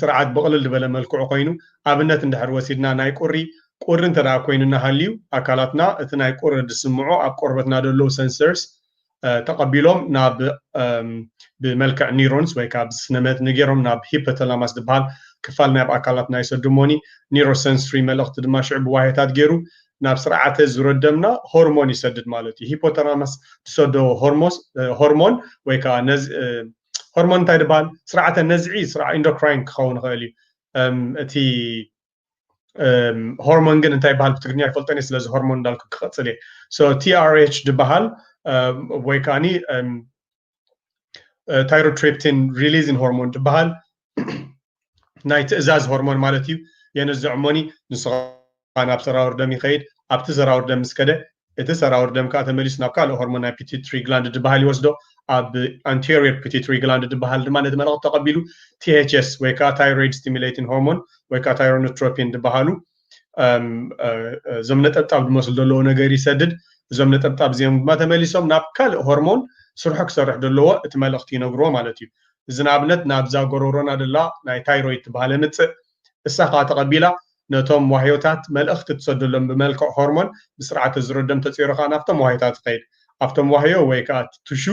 ስርዓት ብቕልል ዝበለ መልክዑ ኮይኑ ኣብነት እንድሕር ወሲድና ናይ ቁሪ ቁሪ እንተድኣ ኮይኑና ሃልዩ ኣካላትና እቲ ናይ ቁሪ ዝስምዑ ኣብ ቆርበትና ዘለዉ ሰንሰርስ ተቐቢሎም ናብ ብመልክዕ ኒሮንስ ወይ ካብ ስነመት ንጌሮም ናብ ሂፐተላማስ ዝበሃል ክፋል ናይ ኣካላትና ይሰድሞኒ ኒሮሰንስሪ መልእኽቲ ድማ ሽዑ ብዋሄታት ገይሩ ናብ ስርዓተ ዙረ ደምና ሆርሞን ይሰድድ ማለት እዩ ሂፖተላማስ ዝሰዶ ሆርሞን ወይ ከዓ ነዚ ሆርሞን እንታይ ድበሃል ስርዓተ ነዝዒ ኢንዶክራይን ክኸውን ይኽእል እዩ እቲ ሆርሞን ግን እንታይ ይበሃል ብትግርኛ ይፈልጠን እየ ስለዚ ሆርሞን እንዳልኩ ክቐፅል እየ ሶ ቲኣርኤች ድበሃል ወይ ከዓኒ ታይሮትሪፕቲን ሪሊዝን ሆርሞን ድበሃል ናይ ትእዛዝ ሆርሞን ማለት እዩ የንዝዕ እሞኒ ንስኻ ናብ ሰራውር ደም ይኸይድ ኣብቲ ሰራውር ደም ምስ ከደ እቲ ሰራውር ደም ከዓ ተመሊሱ ናብ ካልእ ሆርሞን ናይ ፒቲትሪ ግላንድ ድበሃል ይወስዶ ኣብ ኣንቴሪየር ፒቲትሪ ግላንድ ድበሃል ድማ ነቲ መልእኽቲ ተቐቢሉ ቲኤችኤስ ወይ ከዓ ታይሮይድ ስቲሙሌቲን ሆርሞን ወይ ከዓ ታይሮኖትሮፒን ድበሃሉ እዞም ነጠብጣብ ዝመስሉ ዘለዎ ነገር ይሰድድ እዞም ነጠብጣብ እዚኦም ድማ ተመሊሶም ናብ ካልእ ሆርሞን ስርሑ ክሰርሕ ዘለዎ እቲ መልእኽቲ ይነግርዎ ማለት እዩ እዚ ንኣብነት ናብዛ ጎረሮና ደላ ናይ ታይሮይድ ትበሃል የምፅእ እሳ ከዓ ተቐቢላ ነቶም ዋህዮታት መልእኽቲ ትሰደሎም ብመልክዕ ሆርሞን ብስርዓተ ዝሮ ደም ተፂሩ ከዓ ናብቶም ዋህዮታት ይኸይድ ኣብቶም ዋህዮ ወይ ከዓ ትሹ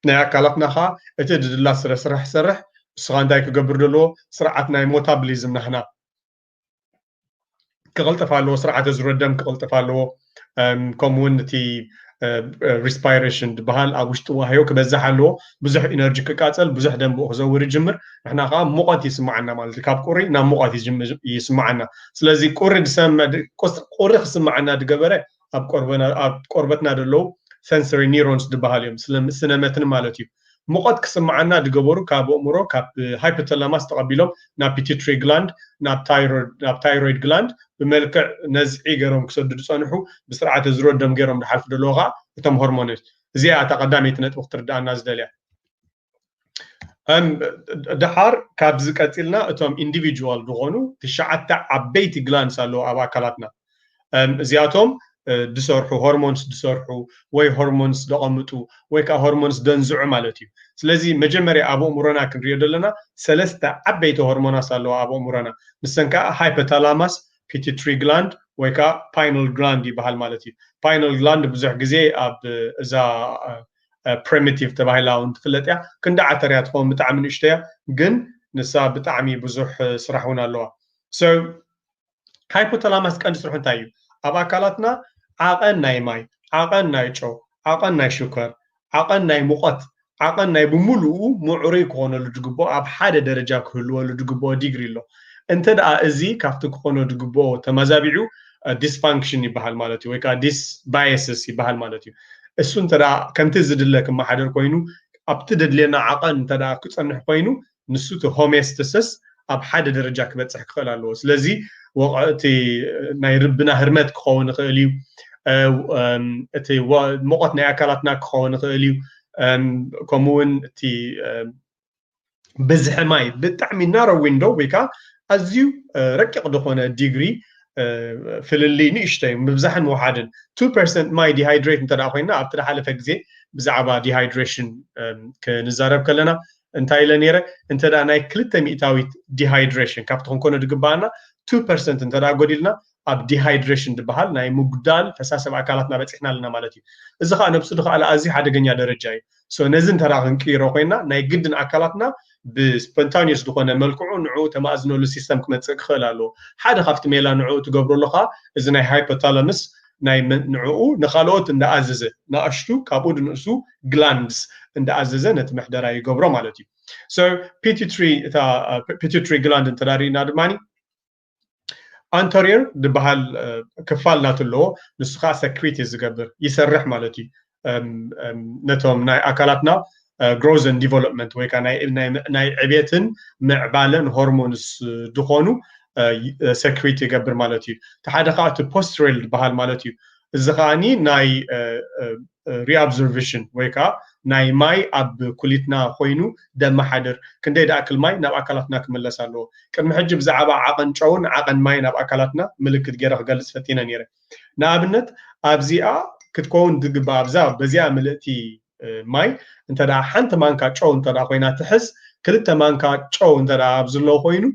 ናይ ኣካላትና ከኣ እቲ ድድላ ስረ ስራሕ ሰርሕ እስኻ እንታይ ክገብር ደለዎ ስርዓት ናይ ሞታብሊዝም ናህና ክቕልጥፍ ኣለዎ ስርዓተ ዝሮ ደም ክቕልጥፍ ኣለዎ ከምኡ እውን እቲ ሪስፓይሬሽን ዝበሃል ኣብ ውሽጢ ዋህዮ ክበዝሕ ኣለዎ ብዙሕ ኢነርጂ ክቃፀል ብዙሕ ደም ብኡ ክዘውር ይጅምር ንሕና ከዓ ሙቐት ይስማዓና ማለት እዩ ካብ ቁሪ ናብ ሙቐት ይስማዓና ስለዚ ቁሪ ዝሰምዕ ቁሪ ክስማዓና ዝገበረ ኣብ ቆርበና ኣብ ቆርበትና ደለዉ ሰንሰሪ ኒሮንስ ድበሃሉ እዮም ስለ ስነ መትኒ ማለት እዩ ሙቐት ክስምዓና ድገበሩ ካብ ኣእምሮ ካብ ሃይፖተላማስ ተቐቢሎም ናብ ፒቲትሪ ግላንድ ናብ ታይሮይድ ናብ ታይሮይድ ግላንድ ብመልክዕ ነዝዒ ገሮም ክሰዱ ድጸንሑ ብስርዓተ ዝሮ ደም ገሮም ድሓልፉ ደለዉ ከኣ እቶም ሆርሞንስ እዚኣ እታ ቀዳመይቲ ነጥቢ ክትርድኣና ዝደልያ ደሓር ካብዚ ቀፂልና እቶም ኢንዲቪጁዋል ዝኾኑ ትሽዓተ ዓበይቲ ግላንስ ኣለዉ ኣብ ኣካላትና እዚኣቶም ድሰርሑ ሆርሞንስ ድሰርሑ ወይ ሆርሞንስ ደቐምጡ ወይ ከዓ ሆርሞንስ ደንዝዑ ማለት እዩ ስለዚ መጀመርያ ኣብ ኣእምሮና ክንሪኦ ዘለና ሰለስተ ዓበይቲ ሆርሞናስ ኣለዋ ኣብ ኣእምሮና ንሰን ከዓ ሃይፐታላማስ ፒቲትሪ ግላንድ ወይ ከዓ ፓይናል ግላንድ ይበሃል ማለት እዩ ፓይናል ግላንድ ብዙሕ ግዜ ኣብ እዛ ፕሪሚቲቭ ተባሂላ እውን ትፍለጥ እያ ክንዲ ዓተር እያ ትኸውን ብጣዕሚ ንእሽቶ እያ ግን ንሳ ብጣዕሚ ብዙሕ ስራሕ እውን ኣለዋ ሶ ሃይፖተላማስ ቀንዲ ስርሑ እንታይ እዩ ኣብ ኣካላትና ዓቐን ናይ ማይ ዓቐን ናይ ጨው ዓቐን ናይ ሽኮር ዓቐን ናይ ሙቐት ዓቐን ናይ ብምሉኡ ምዕሩይ ክኾነሉ ዝግብኦ ኣብ ሓደ ደረጃ ክህልወሉ ዝግብኦ ዲግሪ ኣሎ እንተ ደኣ እዚ ካብቲ ክኾኖ ዝግብኦ ተመዛቢዑ ዲስፋንክሽን ይበሃል ማለት እዩ ወይ ከዓ ዲስ ባየስስ ይበሃል ማለት እዩ እሱ እንተ ከምቲ ዝድለ ክመሓደር ኮይኑ ኣብቲ ደድልየና ዓቐን እንተ ክፀንሕ ኮይኑ ንሱ እቲ ሆሜስትስስ ኣብ ሓደ ደረጃ ክበፅሕ ክኽእል ኣለዎ ስለዚ ወቕዕቲ ናይ ርብና ህርመት ክኸውን ይኽእል እዩ እቲ ሞቐት ናይ ኣካላትና ክኸውን ይኽእል እዩ ከምኡውን እቲ ብዝሒ ማይ ብጣዕሚ ናሮ ዊንዶ ወይ ከዓ ኣዝዩ ረቂቕ ዝኾነ ዲግሪ ፍልልይ ንእሽተይ ምብዛሕን ውሓድን ቱ ፐርሰንት ማይ ዲሃይድሬት እንተ ኮይና ኣብቲ ዝሓለፈ ግዜ ብዛዕባ ዲሃይድሬሽን ክንዛረብ ከለና እንታይ ኢለ ነይረ እንተ ናይ ክልተ ሚእታዊት ዲሃይድሬሽን ካብቲ ክንኮነ ዝግባኣና ቱ ፐርሰንት እንተ ጎዲልና ኣብ ዲሃይድሬሽን ድበሃል ናይ ምጉዳል ፈሳሲ ኣብ ኣካላትና በጺሕና ኣለና ማለት እዩ። እዚ ከኣ ነብሱ ድከኣለ ኣዝዩ ሓደገኛ ደረጃ እዩ። so ነዚ እንተደኣ ክንቅይሮ ኮይና ናይ ግድን ኣካላትና ብ spontaneous ድኮነ መልክዑ ንዕኡ ተማእዝነሉ system ክመጽእ ክክእል ኣለዎ። ሓደ ካብቲ ሜላ ንዕኡ ትገብረሉ ከኣ እዚ ናይ Hypothalamus ናይ ንዕኡ ንካልኦት እንዳኣዘዘ ናኣሽቱ ካብኡ ድንእሱ glands እንዳኣዘዘ ነቲ ምሕደራ ይገብሮ ማለት እዩ። so Pituitary እታ Pituitary gland እንተደኣ ሪኢና ድማ ኣንተሪር ዝበሃል ክፋል ናቱ ኣለዎ ንሱ ከዓ ሰክሪት እዩ ዝገብር ይሰርሕ ማለት እዩ ነቶም ናይ ኣካላትና ግሮዝን ዲቨሎፕመንት ወይ ከዓ ናይ ዕቤትን ምዕባለን ሆርሞንስ ዝኾኑ ሰክሪት ይገብር ማለት እዩ እቲ ሓደ ከዓ እቲ ፖስትሬል ዝበሃል ማለት እዩ እዚ ከዓኒ ናይ ሪኣብዞርቭሽን ወይ ከኣ ናይ ማይ ኣብ ኩሊትና ኮይኑ ደማሓድር ክንደይ ድኣክል ማይ ናብ ኣካላትና ክምለስ ኣለዎ ቅድሚ ሕጂ ብዛዓባ ዓቐን ጨውን ዓቐን ማይን ኣብ ኣካላትና ምልክት ጌረ ክገልጽ ፈቲነ ኔረ ንኣብነት ኣብዚኣ ክትኮውን ዝግባኣ ኣብዛ በዚኣ ምልእቲ ማይ እንተ ሓንቲ ማንካ ጨው እንተ ኮይና ትሕዝ ክልተ ማንካ ጨው እንተ ኣብዝሎ ኮይኑ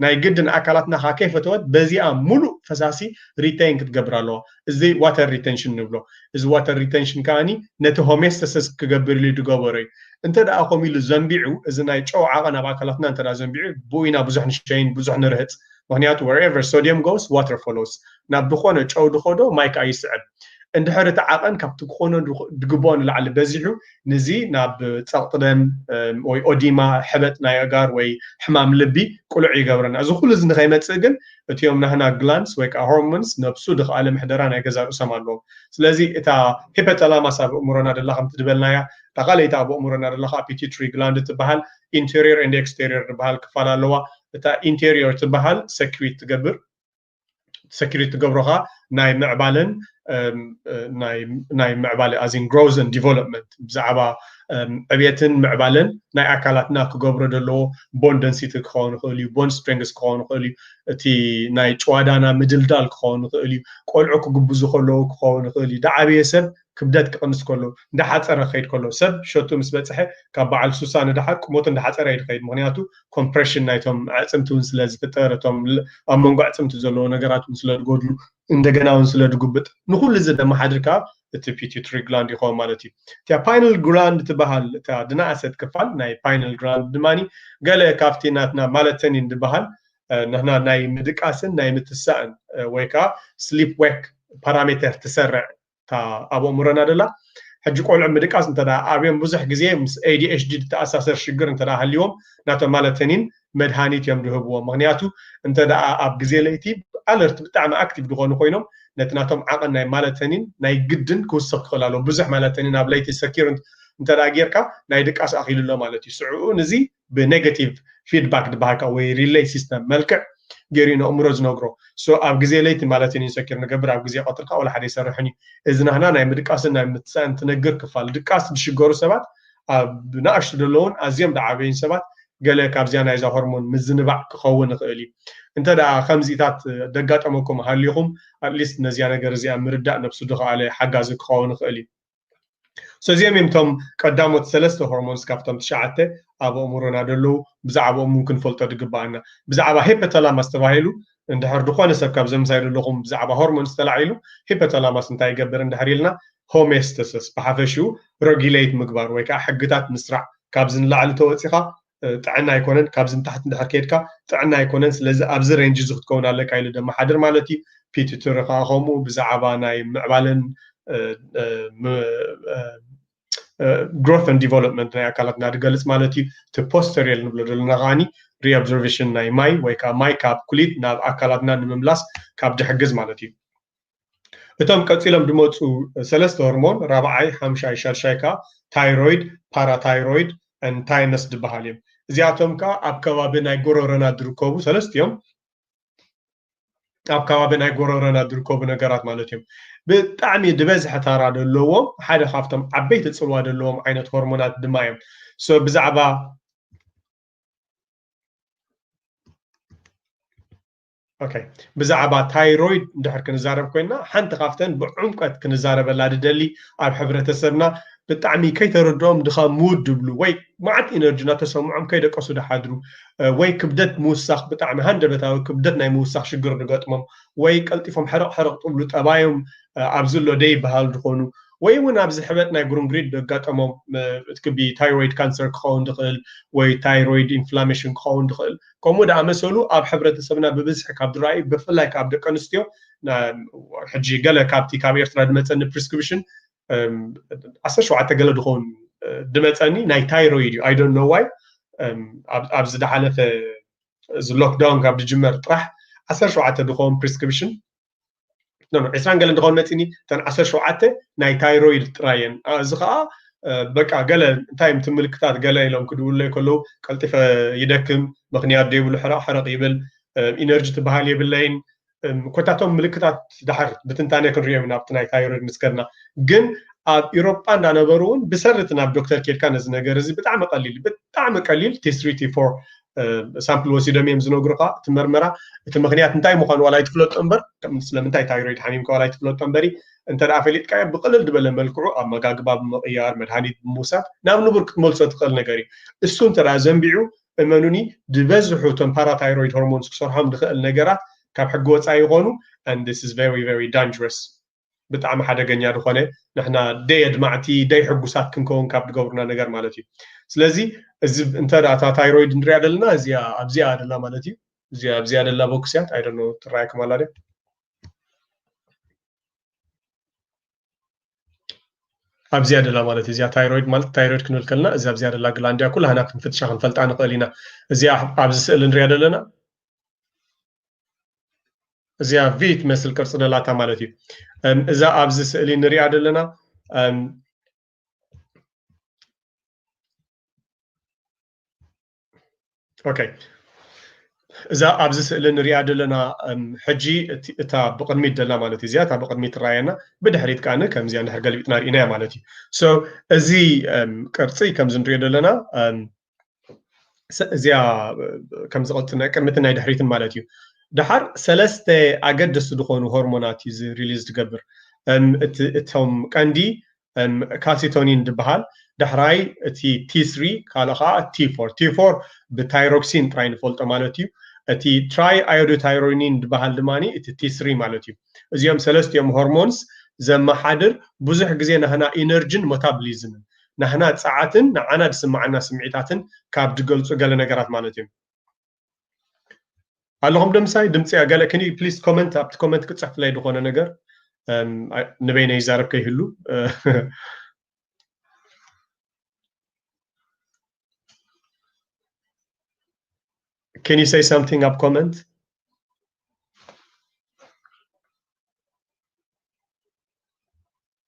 ናይ ግድን ኣካላትና ከኣ ከይፈተወት በዚኣ ሙሉእ ፈሳሲ ሪተይን ክትገብር ኣለዋ። እዚ ዋተር ሪተንሽን ንብሎ። እዚ ዋተር ሪተንሽን ከኣ ነቲ ሆሜስተሰስ ክገብር ኢሉ ዝገበሮ እዩ። እንተ ደኣ ከምኡ ኢሉ ዘንቢዑ እዚ ናይ ጨው ዓቐን ኣብ ኣካላትና እንተ ደኣ ዘንቢዑ ብኡ ኢና ብዙሕ ንሸይን ብዙሕ ንርህጽ። ምኽንያቱ wherever sodium goes water follows ናብ ድኾነ ጨው ድኸዶ ማይ ከኣ ይስዕብ። እንድሕር እቲ ዓቐን ካብቲ ክኾኖ ድግብኦ ንላዕሊ በዚሑ ንዚ ናብ ጸቕጢ ደም ወይ ኦዲማ፣ ሕበጥ ናይ ኣእጋር ወይ ሕማም ልቢ ቅሉዕ ይገብረና። እዚ ኩሉ እዚ ንኸይመጽእ ግን እቲኦም ናህና ግላንድስ ወይ ከኣ ሆርሞንስ ነብሱ ድኸኣለ ምሕደራ ናይ ገዛ ርእሶም ኣለዎም። ስለዚ እታ ሂፐተላማስ ኣብ ኣእምሮና ደላ ከምቲ ድበልናያ እታ ካልኣይቲ ኣብ ኣእምሮና ደላ ከኣ ፒቲትሪ ግላንድ ትበሃል። ኢንተርዮር ኤንድ ኤክስተርዮር ድበሃል ክፋል ኣለዋ። እታ ኢንተርዮር ትበሃል ሰክሪት ትገብር። ሰኪሪቲ ትገብሮካ ናይ ምዕባለን ናይ ምዕባለ ኣዚን ግሮዝ ን ዲቨሎፕመንት ብዛዕባ ዕብየትን ምዕባለን ናይ ኣካላትና ክገብሮ ዘለዎ ቦን ደንሲቲ ክኸውን ይኽእል እዩ ቦን ስትሪንግስ ክኸውን ይኽእል እዩ እቲ ናይ ጭዋዳና ምድልዳል ክኸውን ይኽእል እዩ ቆልዑ ክግብዙ ከለዉ ክኸውን ይኽእል እዩ ዳዓበየ ሰብ ክብደት ክቕንስ ከሎ፣ እንዳሓጸረ ክኸይድ ከሎ፣ ሰብ ሸትኡ ምስ በጽሐ ካብ በዓል ሱሳ ንደሓር ቁመቱ እንዳሓጸረ እዩ ዝኸይድ ምኽንያቱ ኮምፕረሽን ናይቶም ኣዕጽምቲ ውን ስለ ዝፍጠር እቶም ኣብ መንጎ ኣዕጽምቲ ዘለዎ ነገራት ውን ስለ ዝጎድሉ እንደገና ውን ስለ ዝጉብጥ ንኹሉ እዚ ደማሓድር ከኣ እቲ ፒቲዩትሪ ግላንድ ይኸውን ማለት እዩ። እታ ፓይነል ግራንድ ትበሃል እታ ድናኣሰት ክፋል ናይ ፓይነል ግራንድ ድማ ገለ ካብቲ ናትና ማለተኒን ዝበሃል ንሕና ናይ ምድቃስን ናይ ምትሳእን ወይ ከኣ ስሊፕ ዌክ ፓራሜተር ትሰርዕ እታ ኣብ ኣእምሮና ደላ ሕጂ ቆልዑ ምድቃስ እንተ ኣብዮም ብዙሕ ግዜ ምስ ADHD ዝተኣሳሰር ሽግር እንተ ሃልይዎም ናተ ማለተኒን መድሃኒት እዮም ዝህብዎም ምክንያቱ እንተ ኣብ ግዜ ለይቲ ኣለርቲ ብጣዕሚ ኣክቲቭ ዝኾኑ ኮይኖም ነቲ ናቶም ዓቐን ናይ ማለተኒን ናይ ግድን ክውስኽ ክኽእል ኣለዎ ብዙሕ ማለተኒን ኣብ ለይቲ ሰኪር እንተ ጌርካ ናይ ድቃስ ኣኺሉ ኣሎ ማለት እዩ ስዕኡ ንዚ ብነገቲቭ ፊድባክ ዝበሃል ከዓ ወይ ሪለይ ሲስተም መልክዕ ገይሩ እዩ ነእምሮ ዝነግሮ ሶ ኣብ ግዜ ለይቲ ማለት እዩ ኢንሰኪር ንገብር ኣብ ግዜ ቀትሪ ከዓ ወላ ሓደ ኣይሰርሕን እዩ እዚ ናህና ናይ ምድቃስን ናይ ምትሳእን ትነግር ክፋል ድቃስ ዝሽገሩ ሰባት ኣብ ንኣሽቱ ዘለዉን ኣዝዮም ዝዓበዩን ሰባት ገለ ካብዚኣ ናይዛ ሆርሞን ምዝንባዕ ክኸውን ይኽእል እዩ እንተ ደኣ ከምዚታት ዘጋጠመኩም ሃሊኹም ኣትሊስት ነዚኣ ነገር እዚኣ ምርዳእ ነብሱ ዝኸኣለ ሓጋዚ ክኸውን ይኽእል እዩ ሰዚኦም እዮም እቶም ቀዳሞት ሰለስተ ሆርሞንስ ካብቶም ትሽዓተ ኣብ ኣእምሮና ደለዉ ብዛዕባኦም እውን ክንፈልጦ ድግበኣና ብዛዕባ ሄፐተላማስ ተባሂሉ እንድሕር ዝኾነ ሰብ ካብ ዘምሳይ ዘለኹም ብዛዕባ ሆርሞንስ ተላዒሉ ሂፐተላማስ እንታይ ይገብር እንድሕር ኢልና ሆሜስተሰስ ብሓፈሽኡ ረጊለይት ምግባር ወይ ከዓ ሕግታት ምስራዕ ካብዚ ንላዕሊ ተወፂኻ ጥዕና ኣይኮነን ካብዚ ንታሕቲ እንድሕር ከይድካ ጥዕና ኣይኮነን ስለዚ ኣብዚ ሬንጅ እዚ ክትከውን ኣለካ ኢሉ ደመሓድር ማለት እዩ ፒቲትሪ ከዓ ከምኡ ብዛዕባ ናይ ምዕባለን ግሮት ን ዲቨሎፕመንት ናይ ኣካላት እናድገልፅ ማለት እዩ እቲ ፖስተሪየል ንብሎ ዘለና ከዓኒ ሪኦብዘርቬሽን ናይ ማይ ወይ ከዓ ማይ ካብ ኩሊት ናብ ኣካላትና ንምምላስ ካብ ድሕግዝ ማለት እዩ እቶም ቀጺሎም ዝመፁ ሰለስተ ሆርሞን ራብዓይ ሓምሻይ ሻድሻይ ከዓ ታይሮይድ ፓራታይሮይድ ን ታይመስ ዝበሃል እዮም እዚኣቶም ከዓ ኣብ ከባቢ ናይ ጎረረና ዝርከቡ ሰለስት እዮም ኣብ ከባቢ ናይ ጎረረና ዝርከቡ ነገራት ማለት እዮም ብጣዕሚ ዝበዝሐ ታራ ዘለዎም ሓደ ካብቶም ዓበይቲ ፅልዋ ዘለዎም ዓይነት ሆርሞናት ድማ እዮም ሶ ብዛዕባ ኦከይ ብዛዕባ ታይሮይድ እንድሕር ክንዛረብ ኮይና ሓንቲ ካብተን ብዕምቀት ክንዛረበላ ድደሊ ኣብ ሕብረተሰብና ብጣዕሚ ከይተረድኦም ድኻም ምውድ ድብሉ ወይ መዓት ኢነርጂ እናተሰምዖም ከይደቀሱ ድሓድሩ ወይ ክብደት ምውሳኽ ብጣዕሚ ሃንደበታዊ ክብደት ናይ ምውሳኽ ሽግር ድገጥሞም ወይ ቀልጢፎም ሕርቕ ሕርቕ ጥብሉ ጠባዮም ኣብዚ ኣሎ ደይበሃል ዝኾኑ ወይ እውን ኣብዚ ሕበጥ ናይ ጉርንጉሪት ደጋጠሞም እቲ ክቢ ታይሮይድ ካንሰር ክኸውን ድኽእል ወይ ታይሮይድ ኢንፍላሜሽን ክኸውን ድኽእል ከምኡ ዝኣመሰሉ ኣብ ሕብረተሰብና ብብዝሒ ካብ ዝረኣዩ ብፍላይ ካብ ደቂ ኣንስትዮ ሕጂ ገለ ካብቲ ካብ ኤርትራ ዝመፀኒ ፕሪስክሪፕሽን ዓሰርተ ሸውዓተ ገለ ዝኸውን ዝመፀኒ ናይ ታይሮይድ እዩ ኣይዶን ነዋይ ኣብ ዝደሓለፈ እዚ ሎክዳውን ካብ ዝጅመር ጥራሕ ዓሰርተ ሸውዓተ ዝኸውን ፕሪስክሪፕሽን ነም ዕስራን ገለን ዝኾን መፂኒ እተን ዓሰርተ ሸውዓተ ናይ ታይሮይድ ጥራይ እየን እዚ ከዓ በቃ ገለ እንታይ እቲ ምልክታት ገለ ኢሎም ክድውለይ ከለዉ ቀልጢፈ ይደክም ምክንያት ዘይብሉ ሕረቕ ሕረቕ ይብል ኢነርጂ ትበሃል የብለይን ኮታቶም ምልክታት ድሓር ብትንታነ ክንሪኦም ኢና ኣብቲ ናይ ታይሮይድ ምስ ከድና ግን ኣብ ኢሮጳ እንዳነበሩ እውን ብሰርቲ ናብ ዶክተር ኬድካ ነዚ ነገር እዚ ብጣዕሚ ቀሊል ብጣዕሚ ቀሊል ቲስሪ ቲፎር ሳምፕል ወሲዶም እዮም ዝነግሩካ እቲ መርመራ እቲ ምክንያት እንታይ ምኳኑ ዋላ ኣይትፍለጦ እምበር ስለምንታይ ታይሮይድ ሓሚምካ ዋላ ኣይትፍለጦ እምበሪ እንተ ፈሊጥካዮ ብቅልል ዝበለ መልክዑ ኣመጋግባ ብምቕያር መድሃኒት ብምውሳድ ናብ ንቡር ክትመልሶ ትኽእል ነገር እዩ እሱ እንተ ዘንቢዑ እመኑኒ ዝበዝሑ እቶም ፓራታይሮይድ ሆርሞንስ ክሰርሖም ዝኽእል ነገራት ካብ ሕጊ ወፃኢ ይኾኑ and this is very very dangerous ብጣዕሚ ሓደገኛ ዝኾነ ንሕና ደይ ኣድማዕቲ ደይ ሕጉሳት ክንከውን ካብ ዝገብሩና ነገር ማለት እዩ ስለዚ እዚ እንተ እታ ታይሮይድ ንሪኣ ዘለና እዚኣ ኣብዚኣ ደላ ማለት እዩ እዚኣ ኣብዚኣ ደላ ቦክስ እያ ኣይደኖ ትረኣየኩም ኣላ ድያ ኣብዚያ ደላ ማለት እዚኣ ታይሮይድ ማለት ታይሮይድ ክንብል ከለና እዚ ኣብዚያ ደላ ግላንድያ ኩላህና ክንፍትሻ ክንፈልጣ ንኽእል ኢና እዚኣ ኣብዚ ስእሊ ንሪኣ ዘለና እዚኣ ቪ ትመስል ቅርፂ ዘላታ ማለት እዩ እዛ ኣብዚ ስእሊ ንሪኣ ዘለና ኦኬ እዛ ኣብዚ ስእሊ ንሪኣ ዘለና ሕጂ እታ ብቅድሚት ደላ ማለት እዩ እዚኣ እታ ብቅድሚት ትረኣየና ብድሕሪት ከዓኒ ከምዚኣ ንድሕር ገልቢጥና ርኢናያ ማለት እዩ ሶ እዚ ቅርፂ ከምዚ ንሪኦ ዘለና እዚኣ ከም ዝቐፅል ናይ ቅድሚትን ናይ ድሕሪትን ማለት እዩ ድሓር ሰለስተ ኣገደስቲ ዝኾኑ ሆርሞናት እዩ ሪሊዝ ትገብር እቶም ቀንዲ ካልሲቶኒን ዝበሃል ዳሕራይ እቲ ቲስሪ ካልኦ ከዓ ቲፎር ቲፎር ብታይሮክሲን ጥራይ ንፈልጦ ማለት እዩ እቲ ትራይ ኣዮዶታይሮኒን ዝበሃል ድማ እቲ ቲስሪ ማለት እዩ እዚኦም ሰለስቲኦም ሆርሞንስ ዘመሓድር ብዙሕ ግዜ ናህና ኢነርጂን ሞታብሊዝምን ናህና ጸዓትን ንዓና ድስምዓና ስምዒታትን ካብ ድገልጹ ገለ ነገራት ማለት እዮም። ኣለኹም ዶ ምሳይ ድምጺ ገለ can you please comment ኣብቲ ኮመንት ክጽሕፍለይ ዝኾነ ነገር ንበይነ ይዛረብ ከይህሉ can you say something ኣብ ኮመንት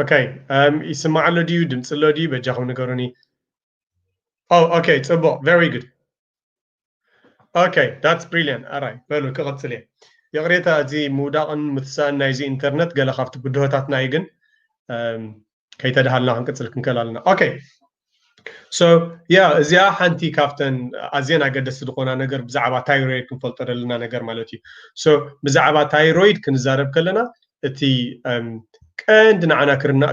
ኦከይ ይስማዕ ኣሎ ድዩ ድምፂ ኣሎ ድዩ በጃኹም ንገሩኒ ኦከይ ፅቡቅ ቨሪ ጉድ ኦከይ ዳትስ ብሪልያንት ኣራይ በሉ ክቕፅል እየ ይቕሬታ እዚ ምውዳቕን ምትሳእን ናይዚ ኢንተርነት ገለ ካብቲ ብድሆታትና እዩ ግን ከይተድሃልና ክንቅፅል ክንክእል ኣለና ኦኬ ሶ ያ እዚኣ ሓንቲ ካብተን ኣዝየን ኣገደስቲ ዝኾና ነገር ብዛዕባ ታይሮይድ ክንፈልጦ ዘለና ነገር ማለት እዩ ሶ ብዛዕባ ታይሮይድ ክንዛረብ ከለና እቲ ቀንዲ ንዓና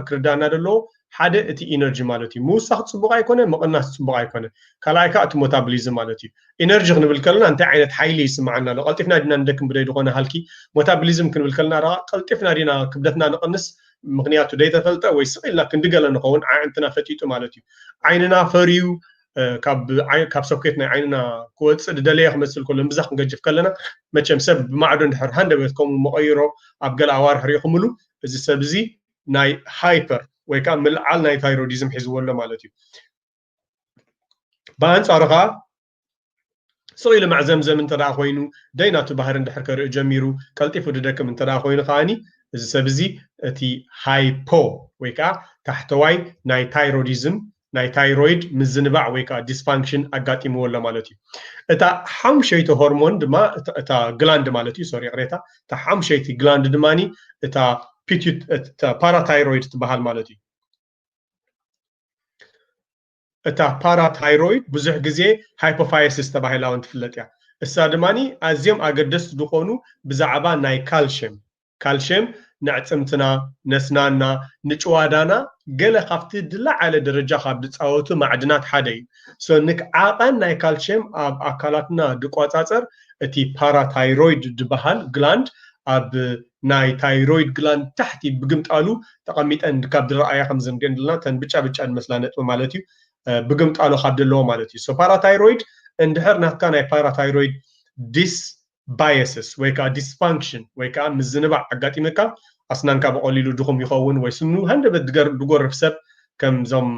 ክርዳእና ዘለዎ ሓደ እቲ ኢነርጂ ማለት እዩ ምውሳኽ ፅቡቕ ኣይኮነ ምቕናስ ፅቡቕ ኣይኮነ ካልኣይ ከዓ እቲ ሞታብሊዝም ማለት እዩ ኢነርጂ ክንብል ከለና እንታይ ዓይነት ሓይሊ ይስምዓና ኣሎ ቀልጢፍና ዲና ንደክም ብደይ ዝኾነ ሃልኪ ሞታብሊዝም ክንብል ከለና ራ ቀልጢፍና ዲና ክብደትና ንቕንስ ምኽንያቱ ደይተፈልጠ ወይ ስቕ ኢልና ክንዲ ገለ ንኸውን ዓዕንትና ፈጢጡ ማለት እዩ ዓይንና ፈርዩ ካብ ሰኩት ናይ ዓይንና ክወፅእ ድደለየ ክመስል ከሎ እምብዛ ክንገጅፍ ከለና መቸም ሰብ ብማዕዶ እንድሕር ሃንደበት ከምኡ መቐይሮ ኣብ ገለ ኣዋርሕ ሪኢኹምሉ እዚ ሰብ እዚ ናይ ሃይፐር ወይ ከዓ ምልዓል ናይ ታይሮዲዝም ሒዝዎ ኣሎ ማለት እዩ ብኣንፃሩ ከዓ ስቕ ኢሉ ማዕዘምዘም እንተ ደኣ ዀይኑ፣ ደይ ናቱ ባህሪ እንድሕር ከርኢ ጀሚሩ፣ ቀልጢፉ ድደክም እንተ ደኣ ዀይኑ ከኣ፣ እዚ ሰብ እዚ እቲ ሃይፖ ወይ ከኣ ታሕተዋይ ናይ ታይሮዲዝም፣ ናይ ታይሮይድ ምዝንባዕ ወይ ከኣ ዲስፋንክሽን ኣጋጢምዎ ኣሎ ማለት እዩ። እታ ሓሙሸይቲ ሆርሞን ድማ እታ ግላንድ ማለት እዩ፣ ሶሪ ይቕሬታ፣ እታ ሓሙሸይቲ ግላንድ ድማ እታ ፓራታይሮይድ ትበሃል ማለት እዩ። እታ ፓራታይሮይድ ብዙሕ ግዜ ሃይፖፋየሲስ ተባሂላ ውን ትፍለጥ እያ። እሳ ድማ ኣዝዮም ኣገደስቲ ዝኾኑ ብዛዕባ ናይ ካልሽየም፣ ካልሽየም ነዕጽምትና፣ ነስናና፣ ንጭዋዳና ገለ ካብቲ ድላዓለ ደረጃ ካብ ድጻወቱ ማዕድናት ሓደ እዩ። so ንክ ዓቐን ናይ ካልሽየም ኣብ ኣካላትና ድቆጻጸር እቲ ፓራታይሮይድ ድበሃል ግላንድ ኣብ ናይ ታይሮይድ ግላንድ ታሕቲ ብግምጣሉ ተቐሚጠን ካብ ድረኣያ ከም ዝንገን ድልና ተን ብጫ ብጫ ድመስላ ነጥቢ ማለት እዩ ብግምጣሎ ካብ ደለዎ ማለት እዩ ፓራታይሮይድ እንድሕር ናትካ ናይ ፓራታይሮይድ ዲስ ባየስስ ወይ ከዓ ዲስፋንክሽን ወይ ከዓ ምዝንባዕ ኣጋጢመካ ኣስናንካ ብቐሊሉ ድኹም ይኸውን ወይ ስኑ ሃንደበት ድጎርፍ ሰብ ከምዞም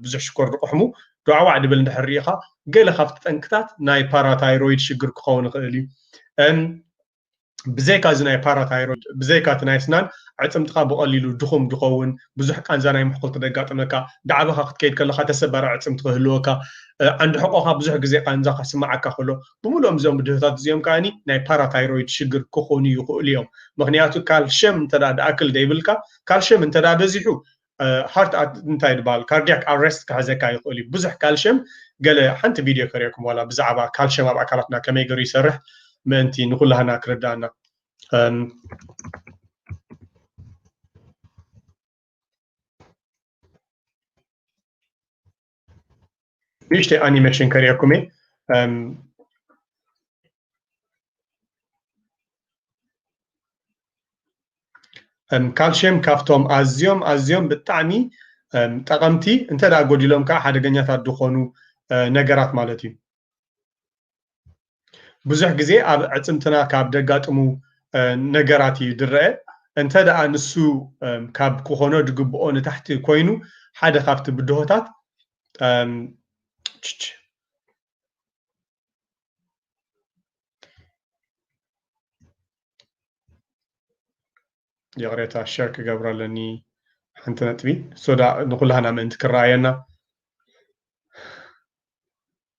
ብዙሕ ሽኮር ድቑሕሙ ዱዓዋዕ ድብል እንድሕር ርኢኻ ገለ ካብቲ ጠንቅታት ናይ ፓራታይሮይድ ሽግር ክኸውን ይኽእል እዩ ብዘይካ እዚ ናይ ፓራታይሮይድ ብዘይካ እቲ ናይ ኣስናን ኣዕጽምትኻ ብቐሊሉ ድኹም ድኸውን፣ ብዙሕ ቃንዛ ናይ ምሕኩልቲ ደጋጥመካ፣ ዳዕበኻ ክትከይድ ከለኻ ተሰባሪ ኣዕጽምቲ ክህልወካ፣ ዓንዲ ሕቖኻ ብዙሕ ግዜ ቃንዛ ክስምዓካ ከሎ፣ ብምሉኦም እዞም ብድሆታት እዚኦም ከኣ ናይ ፓራታይሮይድ ሽግር ክኾኑ ይኽእሉ እዮም። ምኽንያቱ ካልሸም እንተ ድኣክል ዘይብልካ ካልሸም እንተ በዚሑ ሃርት እንታይ ድበሃል ካርዲያክ ኣረስት ክሕዘካ ይኽእል እዩ ብዙሕ ካልሽየም ገለ ሓንቲ ቪድዮ ከሪኦኩም ዋላ ብዛዕባ ካልሽየም ኣብ ኣካላትና ከመይ ገሩ ይሰርሕ ምእንቲ ንኩላህና ክርዳእና ንእሽተይ ኣኒሜሽን ከርእየኩም እየ ካልሽየም ካብቶም ኣዝዮም ኣዝዮም ብጣዕሚ ጠቐምቲ እንተ ጎዲሎም ከዓ ሓደገኛታት ዝኾኑ ነገራት ማለት እዩ ብዙሕ ግዜ ኣብ ኣዕፅምትና ካብ ደጋጥሙ ነገራት እዩ ድረአ እንተ ደኣ ንሱ ካብ ክኾኖ ድግብኦ ንታሕቲ ኮይኑ ሓደ ካብቲ ብድሆታት ይቕሬታ ሸር ክገብሮ ኣለኒ ሓንቲ ነጥቢ ሶዳ ንኩላህና ምእንቲ ክረኣየና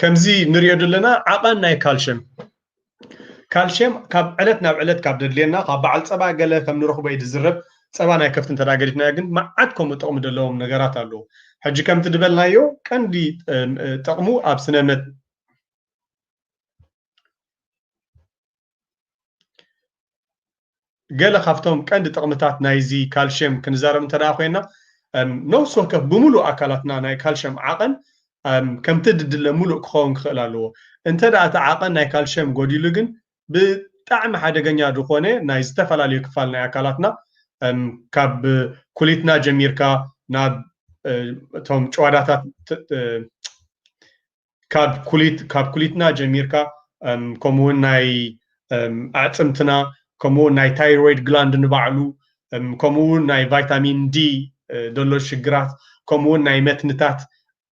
ከምዚ ንሪኦ ዘለና ዓቐን ናይ ካልሸም ካልሸም ካብ ዕለት ናብ ዕለት ካብ ደድልየና ካብ በዓል ፀባ ገለ ከም ንረኽቦ እዩ ዝዝረብ ፀባ ናይ ከፍቲ እንተ ገዲፍናዮ ግን መዓት ከምኡ ጥቕሚ ዘለዎም ነገራት ኣለዉ ሕጂ ከምቲ ዝበልናዮ ቀንዲ ጥቕሙ ኣብ ስነ ገለ ካብቶም ቀንዲ ጥቕምታት ናይዚ ካልሽየም ክንዛረብ እንተ ኮይና ነብሲ ወከፍ ብምሉእ ኣካላትና ናይ ካልሽየም ዓቐን ከምቲ ድድለ ምሉእ ክኸውን ክኽእል ኣለዎ እንተ እቲ ዓቐን ናይ ካልሽየም ጎዲሉ ግን ብጣዕሚ ሓደገኛ ዝኾነ ናይ ዝተፈላለዩ ክፋል ናይ ኣካላትና ካብ ኩሊትና ጀሚርካ ናብ እቶም ጨዋዳታት ካብ ኩሊት ካብ ኩሊትና ጀሚርካ ከምኡ እውን ናይ ኣዕፅምትና ከምኡ እውን ናይ ታይሮይድ ግላንድ ንባዕሉ ከምኡ እውን ናይ ቫይታሚን ዲ ዘሎ ሽግራት ከምኡ እውን ናይ መትንታት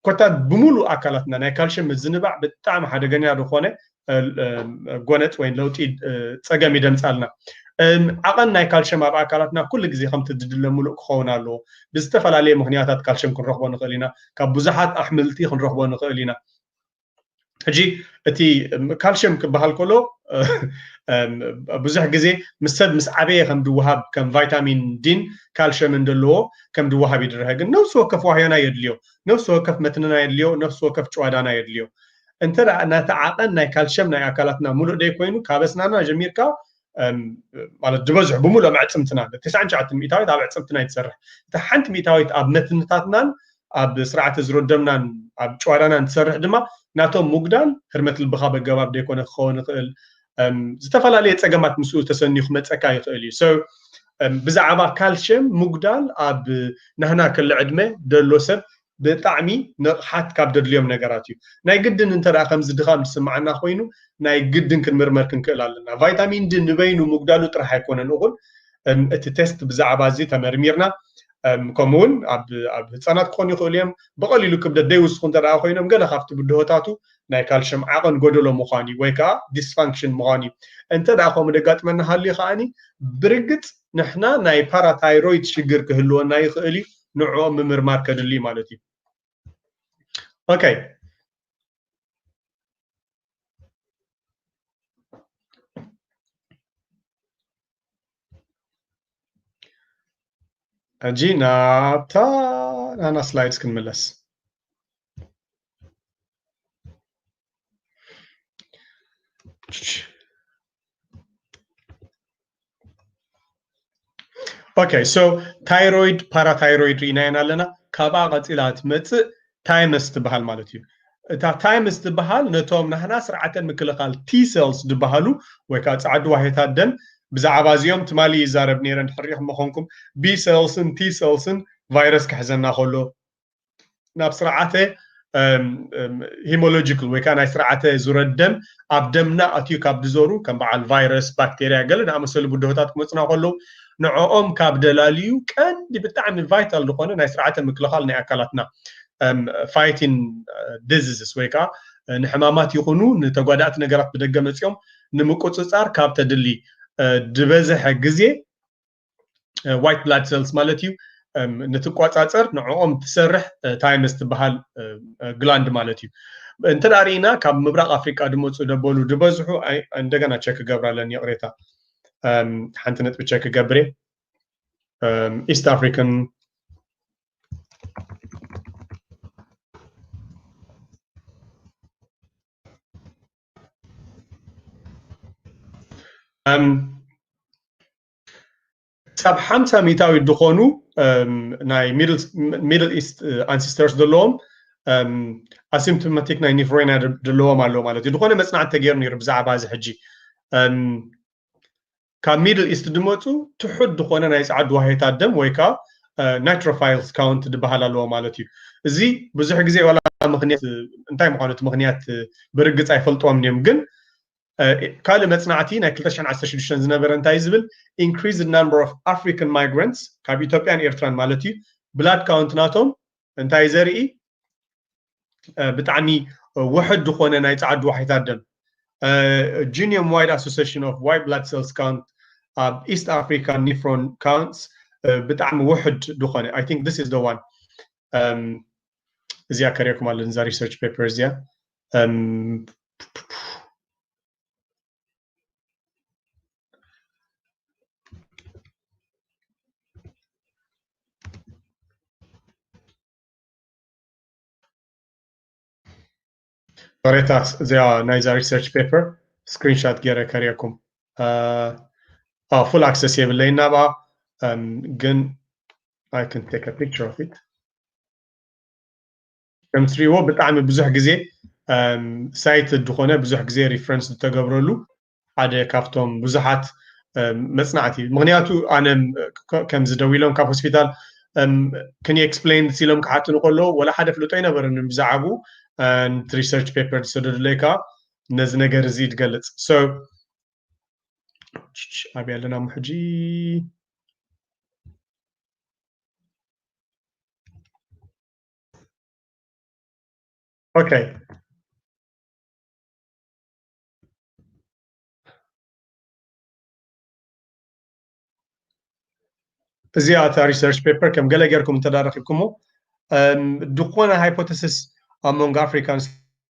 ኮታ ብምሉእ ኣካላትና ናይ ካልሽየም ምዝንባዕ ብጣዕሚ ሓደገኛ ዝኾነ ጎነፅ ወይ ለውጢ ፀገም ይደምፃልና ዓቐን ናይ ካልሽየም ኣብ ኣካላትና ኩሉ ግዜ ከምቲ ዝድለ ምሉእ ክኸውን ኣለዎ ብዝተፈላለየ ምክንያታት ካልሽየም ክንረኽቦ ንኽእል ኢና ካብ ብዙሓት ኣሕምልቲ ክንረኽቦ ንኽእል ኢና ሕጂ እቲ ካልሽየም ክበሃል ከሎ ብዙሕ ግዜ ምስ ሰብ ምስ ዓበየ ከም ድወሃብ ከም ቫይታሚን ዲን ካልሽየምን ዘለዎ ከም ድወሃብ ይድረሀ ግን ነፍሲ ወከፍ ዋህዮና የድልዮ ነፍሲ ወከፍ መትንና የድልዮ ነፍሲ ወከፍ ጭዋዳና የድልዮ እንተ ናቲ ዓቐን ናይ ካልሸም ናይ ኣካላትና ሙሉእ ደይ ኮይኑ ካብ ኣስናና ጀሚርካ ማለት ዝበዝሑ ብምሉእ ኣዕፅምትና ትስዓን ትሽዓተ ሚእታዊት ኣብ ኣዕፅምትና ይትሰርሕ እቲ ሓንቲ ሚእታዊት ኣብ መትንታትናን ኣብ ስርዓተ ዝሮደምናን ኣብ ጨዋዳናን ትሰርሕ ድማ ናቶም ምጉዳል ህርመት ልብኻ በገባብ ደይኮነ ክኸውን ይኽእል ዝተፈላለየ ፀገማት ምስኡ ተሰንዩ ክመፀካ ይኽእል እዩ ሰብ ብዛዕባ ካልሽየም ምጉዳል ኣብ ናህና ክሊ ዕድመ ደሎ ሰብ ብጣዕሚ ንቕሓት ካብ ደድልዮም ነገራት እዩ። ናይ ግድን እንተ ደኣ ከምዚ ድኻም ዝስምዓና ኮይኑ ናይ ግድን ክንምርመር ክንክእል ኣለና። ቫይታሚን ዲ ንበይኑ ምጉዳሉ ጥራሕ ኣይኮነን እኹል እቲ ቴስት ብዛዕባ እዚ ተመርሚርና ከምኡ እውን ኣብ ህፃናት ክኾኑ ይኽእሉ እዮም ብቐሊሉ ክብደት ዘይውስኹ እንተ ደኣ ኮይኖም ገለ ካብቲ ብድሆታቱ ናይ ካልሽም ዓቐን ጎደሎ ምዃን እዩ ወይ ከዓ ዲስፋንክሽን ምዃን እዩ እንተ ደኣ ከምኡ ደጋጥመና ሃልዩ ከዓኒ ብርግፅ ንሕና ናይ ፓራታይሮይድ ሽግር ክህልወና ይኽእል እዩ ንዕኦም ምምርማር ከድሊ እዩ ማለት እዩ ኦኬ ሕጂ ናብታ ናና ስላይድስ ክንምለስ ኦኬ ሶ ታይሮይድ ፓራታይሮይድ ርኢናየን ኣለና ካብኣ ቀፂላ ትመፅእ ታይመስ ትበሃል ማለት እዩ እታ ታይምስ ትበሃል ነቶም ናህና ስርዓተ ምክልኻል ቲ ሴልስ ዝበሃሉ ወይ ከዓ ፃዕዱ ዋሄታት ደም ብዛዕባ እዚኦም ትማሊ ይዛረብ ነይረ ንሕሪኹም መኾንኩም ቢ ሴልስን ቲ ሴልስን ቫይረስ ክሕዘና ከሎ ናብ ስርዓተ ሂሞሎጂካል ወይ ከዓ ናይ ስርዓተ ዙረደም ኣብ ደምና ኣትዩ ካብ ዝዞሩ ከም በዓል ቫይረስ ባክቴርያ ገለ ዝኣመሰሉ ብድሆታት ክመፁና ከለዉ ንዕኦም ካብ ደላልዩ ቀንዲ ብጣዕሚ ቫይታል ዝኾነ ናይ ስርዓተ ምክልኻል ናይ ኣካላትና ፋይቲን ዲዚዝስ ወይ ከዓ ንሕማማት ይኹኑ ንተጓዳእቲ ነገራት ብደገ መፂኦም ንምቁፅፃር ካብ ተድሊ ዝበዝሐ ግዜ ዋይት ብላድ ሰልስ ማለት እዩ ንትቋፃፀር ንዕኦም ትሰርሕ ታይምስ ትበሃል ግላንድ ማለት እዩ እንተ ርኢና ካብ ምብራቅ ኣፍሪቃ ድመፁ ደበሉ ድበዝሑ እንደገና ቸክ ክገብር ኣለኒ ይቕሬታ ሓንቲ ነጥቢ ቸክ ክገብር ኢስት ኣፍሪካን ክሳብ ሓምሳ ሚእታዊት ዝኾኑ ናይ ሚድል ኢስት ኣንሲስተርስ ዘለዎም ኣሲምፕቶማቲክ ናይ ኒፍሮይና ዘለዎም ኣለዎ ማለት እዩ ዝኾነ መፅናዕቲ ተገይሩ ነይሩ ብዛዕባ እዚ ሕጂ ካብ ሚድል ኢስት ድመፁ ትሑት ዝኾነ ናይ ፃዕዱ ዋሄታት ደም ወይ ከዓ ናይትሮፋይልስ ካውንት ዝበሃል ኣለዎ ማለት እዩ እዚ ብዙሕ ግዜ ዋላ ምክንያት እንታይ ምኳኑ እቲ ምክንያት ብርግፅ ኣይፈልጥዎም እዮም ግን ካልእ መጽናዕቲ ናይ ክልተ ሽሕን ዓሰርተ ሽዱሽተን ዝነበረ እንታይ እዩ ዝብል ኢንክሪዝድ ናምበር ኦፍ ኣፍሪካን ማይግራንትስ ካብ ኢትዮጵያን ኤርትራን ማለት እዩ ብላድ ካውንት ናቶም እንታይ ዘርኢ ብጣዕሚ ውሕድ ዝኾነ ናይ ፃዓዱ ዋሕታት ደም ጂኒየም ዋይድ ኣሶሴሽን ኦፍ ዋይት ብላድ ሴልስ ካውንት ኣብ ኢስት ኣፍሪካ ኒፍሮን ካውንትስ ብጣዕሚ ውሕድ ዝኾነ ኣይ ቲንክ ዚስ ኢዝ ዘ ዋን እዚኣ ከሪኦኩም ኣለኒ እዛ ሪሰርች ፔፐር እዚኣ Ähm, Baretax, እዚኣ ናይዛ ሪሰርች ፔፐር ስክሪንሻት ገይረ ከሪአኩም ፉል ኣክሰስ የብለይ ናብኣ ግን ኣይ ክን ቴክ ፒክቸር ኦፍ ኢት ከም ትሪእዎ ብጣዕሚ ብዙሕ ግዜ ሳይት ዝኾነ ብዙሕ ግዜ ሪፈረንስ ዝተገብረሉ ሓደ ካብቶም ብዙሓት መፅናዕቲ እዩ ምክንያቱ ኣነ ከምዚ ደው ኢሎም ካብ ሆስፒታል ክን ኤክስፕሌን ሲሎም ክሓትኑ ከለዉ ወላ ሓደ ፍልጦ ኣይነበረኒ ብዛዕቡ ሪሰርች ፔፐር ዝሰደዱለይ ከዓ ነዚ ነገር እዚ ትገልፅ ኣብያ ኣለና ሞ ሕጂ Okay. እዚኣ እታ ሪሰርች ፔፐር ከም ገለ ጌርኩም እንተዳረኪብኩሞ ዝኾነ ሃይፖተሲስ ኣብ መንጎ ኣፍሪካን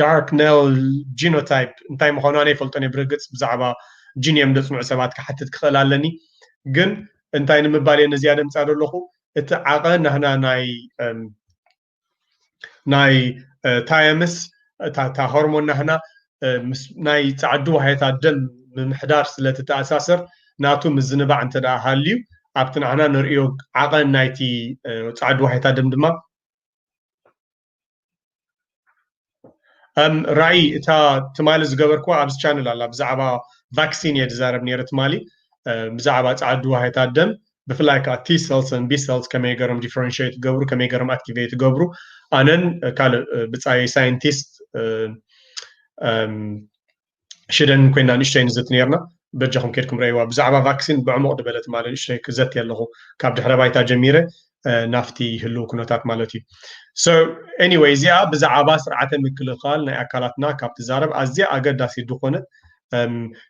ዳርክ ኔል ጂኖታይፕ እንታይ ምዃኑ ኣነ ይፈልጦን እየ ብርግፅ ብዛዕባ ጂን እዮም ዘፅንዑ ሰባት ክሓትት ክኽእል ኣለኒ ግን እንታይ ንምባል እየ ነዚኣ ደምፃ ዘለኹ እቲ ዓቐ ናህና ናይ ናይ ታየምስ እታ ሆርሞን ናህና ናይ ፃዕዲ ዋህየታ ደም ምምሕዳር ስለትተኣሳሰር ናቱ ምዝንባዕ እንተ ሃልዩ ኣብቲ ናህና ንርእዮ ዓቐን ናይቲ ፃዕዲ ዋህየታ ደም ድማ ራእይ እታ ትማሊ ዝገበርክዋ ኣብዚ ቻነል ኣላ ብዛዕባ ቫክሲን እየ ዝዛረብ ነይረ ትማሊ ብዛዕባ ፃዓዱ ዋህታት ደም ብፍላይ ከዓ ቲ ሰልስ ን ቢ ሰልስ ከመይ ገሮም ዲፍረንሽት ገብሩ ከመይ ገሮም ኣክቲቬት ገብሩ ኣነን ካልእ ብፃይ ሳይንቲስት ሽደን ኮይና ንእሽቶይ ንዝት ነይርና በጃኹም ኬድኩም ረእይዋ ብዛዕባ ቫክሲን ብዕሙቕ ድበለ ትማሊ ንእሽቶይ ክዘቲ ኣለኹ ካብ ድሕረ ባይታ ጀሚረ ናፍቲ ህልው ኩነታት ማለት እዩ ሶ ኤኒወይ እዚኣ ብዛዕባ ስርዓተ ምክልኻል ናይ ኣካላትና ካብ ትዛረብ ኣዝያ ኣገዳሲ ዝኾነት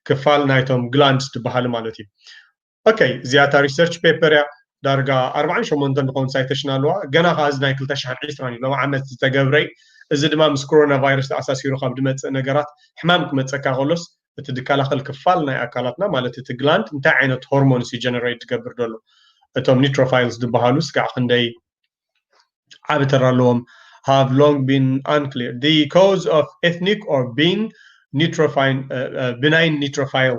ክፋል ናይቶም ግላንድስ ትበሃሉ ማለት እዩ ኦከይ እዚኣ እታ ሪሰርች ፔፐር እያ ዳርጋ ኣርባዓን ሸሞንተን ዝኸውን ሳይተሽን ኣለዋ ገና ከዓ እዚ ናይ ክልተ ሽሕን ዒስራን እዩ ሎም ዓመት ዝተገብረ እዩ እዚ ድማ ምስ ኮሮና ቫይረስ ተኣሳሲሩ ካብ ዝመፅእ ነገራት ሕማም ክመፀካ ከሎስ እቲ ዝከላኸል ክፋል ናይ ኣካላትና ማለት እቲ ግላንድ እንታይ ዓይነት ሆርሞንስ እዩ ጀነሬት ዝገብር ዘሎ እቶም ኒትሮፋይልስ ዝበሃሉ ስጋዕ ክንደይ ዓብ ተራ ኣለዎም have long been unclear the cause of ethnic or being neutrophile uh, uh, benign neutrophile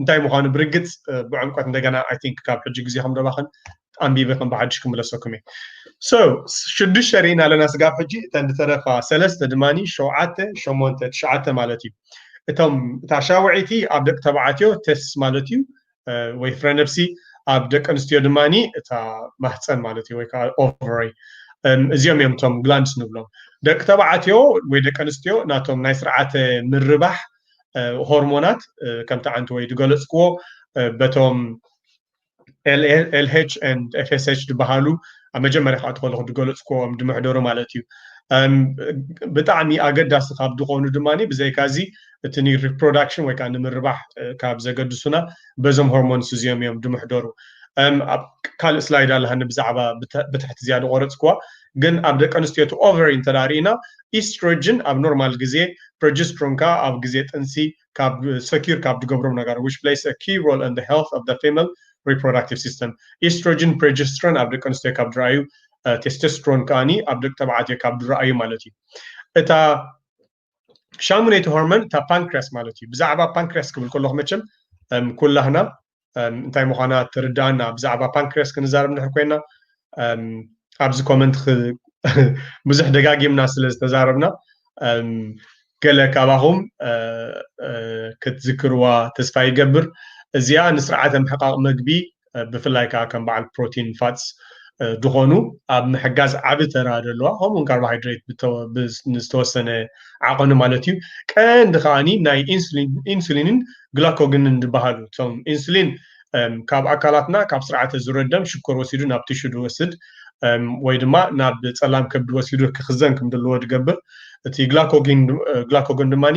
እንታይ ምዃኑ ብርግጽ ብዕምቆት እንደገና ኣይ ቲንክ ካብ ሕጂ ግዜኹም ደባኽን ኣንቢበ ከም ብሓድሽ ክምለሰኩም እየ ሶ ሽዱሽተ ርኢና ኣለና ስጋብ ሕጂ እተን ዝተረፋ ሰለስተ ድማኒ ሸውዓተ ሸሞንተ ትሽዓተ ማለት እዩ እቶም እታ ሻውዒቲ ኣብ ደቂ ተባዕትዮ ተስ ማለት እዩ ወይ ፍረ ነብሲ ኣብ ደቂ ኣንስትዮ ድማኒ እታ ማህፀን ማለት እዩ ወይ ከዓ ኦቨሪ እዚኦም እዮም እቶም ግላንድስ ንብሎም ደቂ ተባዕትዮ ወይ ደቂ ኣንስትዮ ናቶም ናይ ስርዓተ ምርባሕ ሆርሞናት ከምቲ ዓንቲ ወይ ዝገለፅክዎ በቶም ኤልኤልኤች ኤፍኤስኤች ዝበሃሉ ኣብ መጀመርያ ክኣቱ ከለኹ ዝገለፅክዎም ዝምሕደሩ ማለት እዩ ብጣዕሚ ኣገዳሲ ካብ ዝኾኑ ድማ ብዘይካዚ እቲ ሪፕሮዳክሽን ወይ ከዓ ንምርባሕ ካብ ዘገድሱና በዞም ሆርሞንስ እዚኦም እዮም ዝምሕደሩ ኣብ ካልእ ስላይድ ኣለሃኒ ብዛዕባ ብትሕቲ እዚኣ ዝቆረፅክዋ ግን ኣብ ደቂ ኣንስትዮ እቲ ኦቨሪ እንተድኣ ርኢና ኢስትሮጅን ኣብ ኖርማል ግዜ ፕሮጀስትሮን ክኣ ኣብ ግዜ ጥንሲ ካብ ሰኪዩር ካብ ዝገብሮም ነጋራት ዊች ፕለይስ አ ኪይ ሮል ኦን ዘ ሄልዝ ኦፍ ዘ ፊመል ሪፕሮዳክቲቭ ሲስተም ኢስትሮጅን ፕሮጀስትሮን ኣብ ደቂ ኣንስትዮ ካብ ዝርኣዩ ቴስቶስትሮን ክኣ ኣብ ደቂ ተባዕትዮ ካብ ዝርኣዩ ማለት እዩ እታ ሻሙነይቲ ሆርሞን እታ ፓንክሪያስ ማለት እዩ ብዛዕባ ፓንክሪያስ ክብል ከለኹ መቸም ኩላህና እንታይ ምዃና ትርዳእና ብዛዕባ ፓንክሪያስ ክንዛረብ ንድሕር ኮይና ኣብዚ ኮመንት ብዙሕ ደጋጊምና ስለ ዝተዛረብና ገለ ካባኹም ክትዝክርዋ ተስፋ ይገብር እዚኣ ንስርዓተ ምሕቃቕ መግቢ ብፍላይ ከዓ ከም በዓል ፕሮቲን ፋትስ ዝኾኑ ኣብ ምሕጋዝ ዓቢ ተራ ዘለዋ ከምኡውን ካርቦሃይድሬት ንዝተወሰነ ዓቐኑ ማለት እዩ ቀንዲ ከዓኒ ናይ ኢንሱሊንን ግላኮግንን ዝበሃሉ እቶም ኢንሱሊን ካብ ኣካላትና ካብ ስርዓተ ዝረደም ሽኮር ወሲዱ ናብ ቲሹ ዝወስድ ወይ ድማ ናብ ፀላም ከብዲ ወሲዱ ክኽዘን ከም ዘለዎ ዝገብር እቲ ግላኮግን ግላኮጎን ድማኒ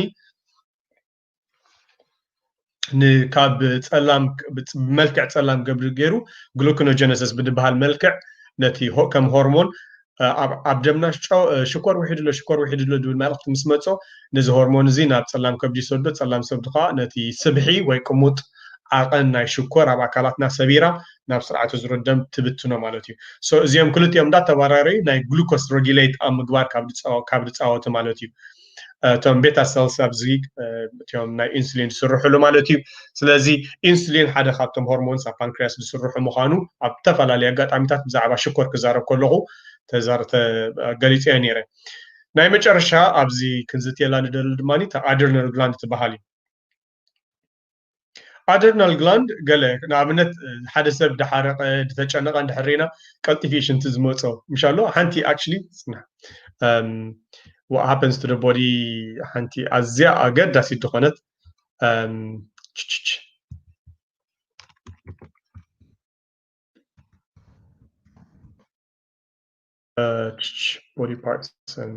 ካብ ጸላም ብመልክዕ ጸላም ገብሪ ገይሩ ግሉኮኖጀነሲስ ብዝበሃል መልክዕ ነቲ ከም ሆርሞን ኣብ ደምና ሽኮር ውሒዱ ኣሎ ሽኮር ውሒዱ ኣሎ ዝብል መልእኽቲ ምስ መጾ ነዚ ሆርሞን እዚ ናብ ጸላም ከብዲ ይሰዶ ጸላም ሰብዲ ከዓ ነቲ ስብሒ ወይ ቅሙጥ ዓቐን ናይ ሽኮር ኣብ ኣካላትና ሰቢራ ናብ ስርዓተ ዝሮ ደም ትብትኖ ማለት እዩ እዚኦም ክልቲኦም እንዳተባራረዩ ናይ ግሉኮስ ሮጊሌት ኣብ ምግባር ካብ ዝፃወቱ ማለት እዩ እቶም ቤታ ሰልስ ኣብዚ እትዮም ናይ ኢንሱሊን ዝስርሕሉ ማለት እዩ ስለዚ ኢንሱሊን ሓደ ካብቶም ሆርሞንስ ኣብ ፓንክርያስ ዝስርሑ ምዃኑ ኣብ ተፈላለየ ኣጋጣሚታት ብዛዕባ ሽኮር ክዛረብ ከለኹ ገሊፀ እየ ነይረ ናይ መጨረሻ ኣብዚ ክንዝትየላ ንደሊ ድማ ተኣድርነል ግላንድ ትበሃል እዩ ኣደርናል ግላንድ ገለ ንኣብነት ሓደ ሰብ ድሓረቀ ድተጨነቀ እንድሕር ሪና ቀልጢፊ ሽንቲ ዝመጾ ምሽ ኣሎ ሓንቲ ኣክቹሊ ስና what happens to the body ሓንቲ ኣዝያ ኣገዳሲት ድኾነት ችችች body parts and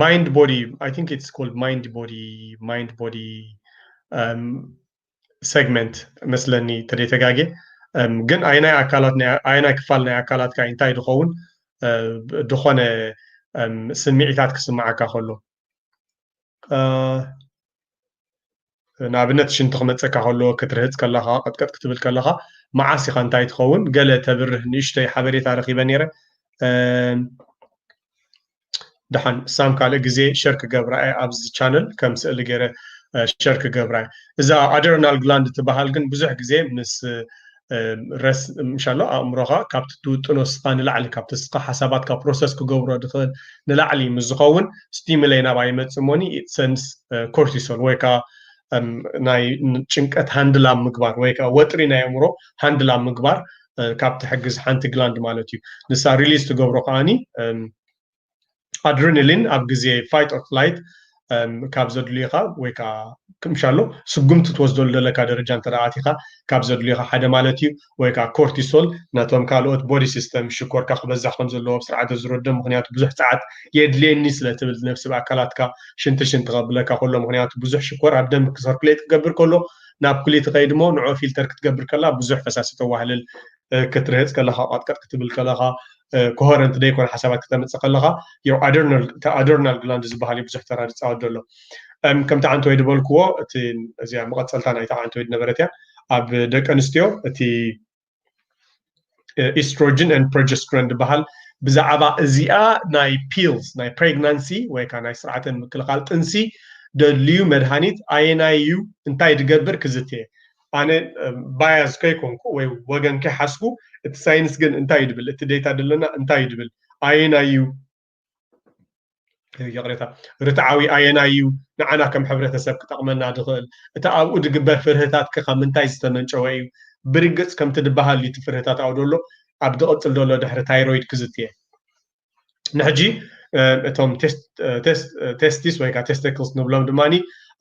ማይንድ ቦዲ ኣይ ቲንክ ኢትስ ኮልድ ማይንድ ቦዲ ማይንድ ቦዲ ሴግመንት መስለኒ ተደይ ተጋጌ ግን ኣይናይ ኣካላት ኣይናይ ክፋል ናይ ኣካላትካ እንታይ ድኸውን ድኾነ ስምዒታት ክስምዓካ ከሎ ንኣብነት ሽንቲ ክመፀካ ከሎ ክትርህፅ ከለካ ቀጥቀጥ ክትብል ከለካ መዓስ ኢካ እንታይ ትኸውን ገለ ተብርህ ንእሽተይ ሓበሬታ ረኪበ ነይረ ድሓን እሳም ካልእ ግዜ ሸር ክገብራ እየ ኣብዚ ቻነል ከም ስእሊ ገይረ ሸር ክገብራ እየ እዛ ኣደረናል ግላንድ ትበሃል ግን ብዙሕ ግዜ ምስ ረስ ምሻሎ ኣእምሮኻ ካብቲ ትውጥኖ ስኻ ንላዕሊ ካብቲ ስኻ ሓሳባትካ ፕሮሰስ ክገብሮ ድኽእል ንላዕሊ ምስ ዝኸውን ስቲሙለይ ናብኣ ይመፅእ ሞኒ ሰንስ ኮርቲሶል ወይ ከዓ ናይ ጭንቀት ሃንድላ ምግባር ወይ ከዓ ወጥሪ ናይ ኣእምሮ ሃንድላ ምግባር ካብ ትሕግዝ ሓንቲ ግላንድ ማለት እዩ ንሳ ሪሊዝ ትገብሮ ከዓኒ ኣድሪኒሊን ኣብ ግዜ ፋይት ኦር ፍላይት ካብ ዘድልዩኻ ወይ ከዓ ክምሻሎ ስጉምቲ ትወስደሉ ዘለካ ደረጃ እንተ ኣቲኻ ካብ ዘድልዩኻ ሓደ ማለት እዩ ወይ ከዓ ኮርቲሶል ነቶም ካልኦት ቦዲ ሲስተም ሽኮርካ ክበዛሕ ከም ዘለዎ ኣብ ስርዓተ ዝረዶ ምክንያቱ ብዙሕ ፀዓት የድልየኒ ስለ ትብል ነፍሲ ብኣካላትካ ሽንቲ ሽንቲ ከብለካ ከሎ ምክንያቱ ብዙሕ ሽኮር ኣብ ደም ክሰርኩሌት ክገብር ከሎ ናብ ኩሊት ኸይድሞ ንዑ ፊልተር ክትገብር ከላ ብዙሕ ፈሳሲ ተዋህልል ክትርህጽ ከለኻ ቀጥቀጥ ክትብል ከለኻ ኮሄረንት ዘይኮነ ሓሳባት ክተምፅእ ከለኻ ያው ኣዶርናል ግላንድ ዝበሃል እዩ ብዙሕ ተራ ዝፃወት ዘሎ ከምቲ ዓንቲ ወይ ዝበልክዎ እቲ እዚያ መቐፀልታ ናይቲ ዓንቲ ወይ ዝነበረት እያ ኣብ ደቂ ኣንስትዮ እቲ ኢስትሮጅን ን ፕሮጀስትሮን ዝበሃል ብዛዕባ እዚኣ ናይ ፒልስ ናይ ፕሬግናንሲ ወይ ከዓ ናይ ስርዓተ ምክልኻል ጥንሲ ደድልዩ መድሃኒት ኣየናይ እዩ እንታይ ድገብር ክዝትየ ኣነ ባያዝ ከይኮንኩ ወይ ወገን ከይሓስኩ እቲ ሳይንስ ግን እንታይ እዩ ድብል እቲ ዴታ ድለና እንታይ እዩ ድብል ኣየናይ እዩ ይቕሬታ ርትዓዊ ኣየናይ እዩ ንዓና ከም ሕብረተሰብ ክጠቕመና ዝኽእል እቲ ኣብኡ ዝግበር ፍርህታት ከ ካብ ምንታይ ዝተመንጨወ እዩ ብርግፅ ከምቲ ዝበሃል እዩ እቲ ፍርህታት ኣብኡ ዘሎ ኣብ ዝቕፅል ዘሎ ድሕሪ ታይሮይድ ክዝትየ ንሕጂ እቶም ቴስቲስ ወይ ከዓ ቴስተክልስ ንብሎም ድማ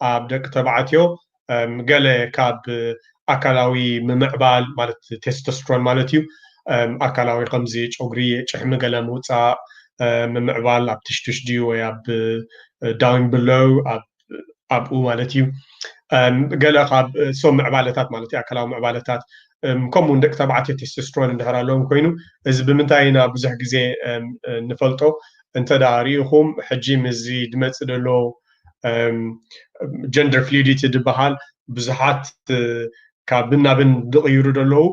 ኣብ ደቂ ተባዕትዮ ገለ ካብ ኣካላዊ ምምዕባል ማለት ቴስቶስትሮን ማለት እዩ ኣካላዊ ከምዚ ጨጉሪ ጭሕሚ ገለ ምውፃእ ምምዕባል ኣብ ትሽትሽ ድዩ ወይ ኣብ ዳውን ብለው ኣብ ኣብኡ ማለት እዩ ገለ ካብ ሶም ምዕባለታት ማለት እዩ ኣካላዊ ምዕባለታት ከምኡ ደቂ ተባዕትዮ ቴስቶስትሮን እንድሕር ኣለዎም ኮይኑ እዚ ብምንታይ ኢና ብዙሕ ግዜ ንፈልጦ እንተ ደኣ ርኢኹም ሕጂ ምስዚ ድመፅእ ደሎ ጀንደር ፍሉዲቲ ዝበሃል ብዙሓት ካብን ናብን ዝቕይሩ ዘለዉ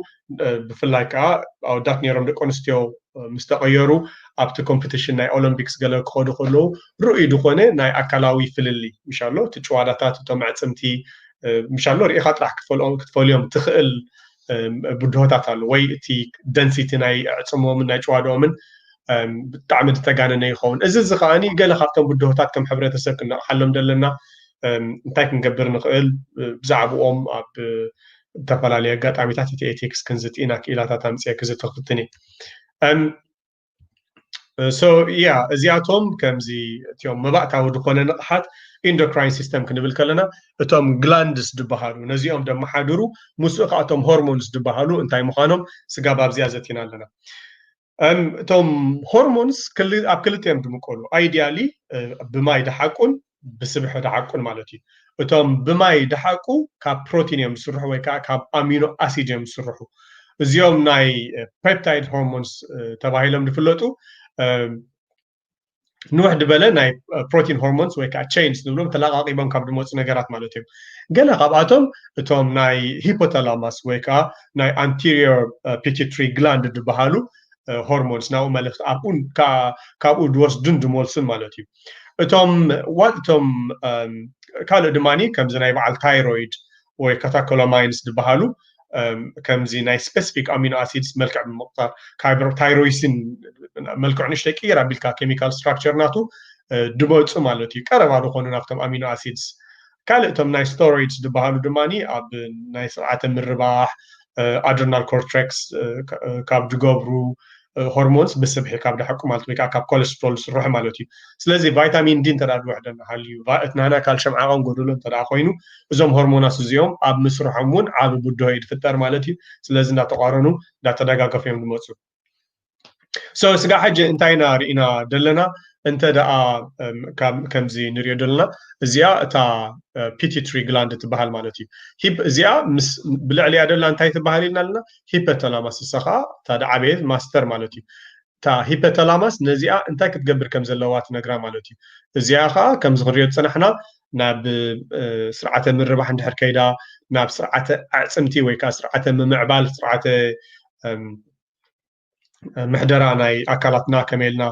ብፍላይ ከዓ ኣወዳት ነይሮም ደቂ ኣንስትዮ ምስ ተቐየሩ ኣብቲ ኮምፒቲሽን ናይ ኦሎምፒክስ ገለ ክኸዱ ከለዉ ርኡይ ዝኾነ ናይ ኣካላዊ ፍልልይ ምሽ ኣሎ እቲ ጭዋዳታት እቶም ኣዕፅምቲ ምሽ ኣሎ ርኢኻ ጥራሕ ክትፈልዮም ትኽእል ብድሆታት ኣሎ ወይ እቲ ደንሲቲ ናይ ኣዕፅምዎምን ናይ ጭዋዳኦምን ብጣዕሚ ዝተጋነነ ይኸውን እዚ እዚ ከዓኒ ገለ ካብቶም ብድሆታት ከም ሕብረተሰብ ክንነቕሓሎም ዘለና እንታይ ክንገብር ንኽእል ብዛዕብኦም ኣብ ዝተፈላለየ ኣጋጣሚታት እቲ ኤቴክስ ክንዝቲ ኢና ክኢላታት ኣምፅአ ክዝቲ ክፍትን እየ ሶ ያ እዚኣቶም ከምዚ እትዮም መባእታዊ ዝኾነ ንቕሓት ኢንዶክራይን ሲስተም ክንብል ከለና እቶም ግላንድስ ዝበሃሉ ነዚኦም ደመሓድሩ ምስኡ ከኣቶም ሆርሞንስ ዝበሃሉ እንታይ ምዃኖም ስጋብ ኣብዚኣ ዘቲና ኣለና እቶም ሆርሞንስ ኣብ ክልተ እዮም ዝምቀሉ ኣይዲያሊ ብማይ ድሓቁን ብስብሒ ድሓቁን ማለት እዩ እቶም ብማይ ድሓቁ ካብ ፕሮቲን እዮም ዝስርሑ ወይ ከዓ ካብ ኣሚኖ ኣሲድ እዮም ዝስርሑ እዚኦም ናይ ፔፕታይድ ሆርሞንስ ተባሂሎም ዝፍለጡ ንውሕ ድበለ ናይ ፕሮቲን ሆርሞንስ ወይ ከዓ ቸይንስ ንብሎም ተለቃቂቦም ካብ ድመፁ ነገራት ማለት እዮም ገለ ካብኣቶም እቶም ናይ ሂፖታላማስ ወይ ከዓ ናይ ኣንቴሪየር ፒቲትሪ ግላንድ ዝበሃሉ ሆርሞንስ ናብኡ መልእክቲ ኣብኡን ካብኡ ድወስዱን ድመልሱን ማለት እዩ እቶም ዋት እቶም ካልእ ድማ ከምዚ ናይ በዓል ታይሮይድ ወይ ካታኮላማይንስ ዝበሃሉ ከምዚ ናይ ስፔሲፊክ ኣሚኖ ኣሲድስ መልክዕ ብምቕጣር ታይሮይሲን መልክዑ ንሽተይ ቅይር ኣቢልካ ኬሚካል ስትራክቸር ናቱ ድመፁ ማለት እዩ ቀረባ ዝኾኑ ናብቶም ኣሚኖ ኣሲድስ ካልእ እቶም ናይ ስቶሮይድስ ዝበሃሉ ድማ ኣብ ናይ ስርዓተ ምርባሕ ኣድርናል ኮርትሬክስ ካብ ዝገብሩ ሆርሞንስ ብስብሒ ካብ ድሓቁ ማለት ወይ ከዓ ካብ ኮለስትሮል ዝስርሑ ማለት እዩ ስለዚ ቫይታሚን ዲ እንተ ዝወሕደና ሃልዩ እቲ ናህና ካልሽም ዓቐን ጎደሎ እንተ ኮይኑ እዞም ሆርሞናት እዚኦም ኣብ ምስርሖም እውን ዓብ ብድሆ እዩ ዝፍጠር ማለት እዩ ስለዚ እንዳተቋረኑ እንዳተደጋገፉ እዮም ዝመፁ ሶ ስጋ ሕጂ እንታይ ኢና ርኢና ዘለና እንተ ደኣ ከምዚ ንሪኦ ዘለና እዚኣ እታ ፒቲትሪ ግላንድ ትበሃል ማለት እዩ ሂፕ እዚኣ ምስ ብልዕሊያ ደላ እንታይ ትበሃል ኢልና ኣለና ሂፐተላማስ እሳ ከዓ እታ ደዓበየት ማስተር ማለት እዩ እታ ሂፐተላማስ ነዚኣ እንታይ ክትገብር ከም ዘለዋ ትነግራ ማለት እዩ እዚኣ ከዓ ከምዚ ክንሪኦ ዝፅናሕና ናብ ስርዓተ ምርባሕ እንድሕር ከይዳ ናብ ስርዓተ ኣዕፅምቲ ወይ ከዓ ስርዓተ ምምዕባል ስርዓተ ምሕደራ ናይ ኣካላትና ከመይ ኢልና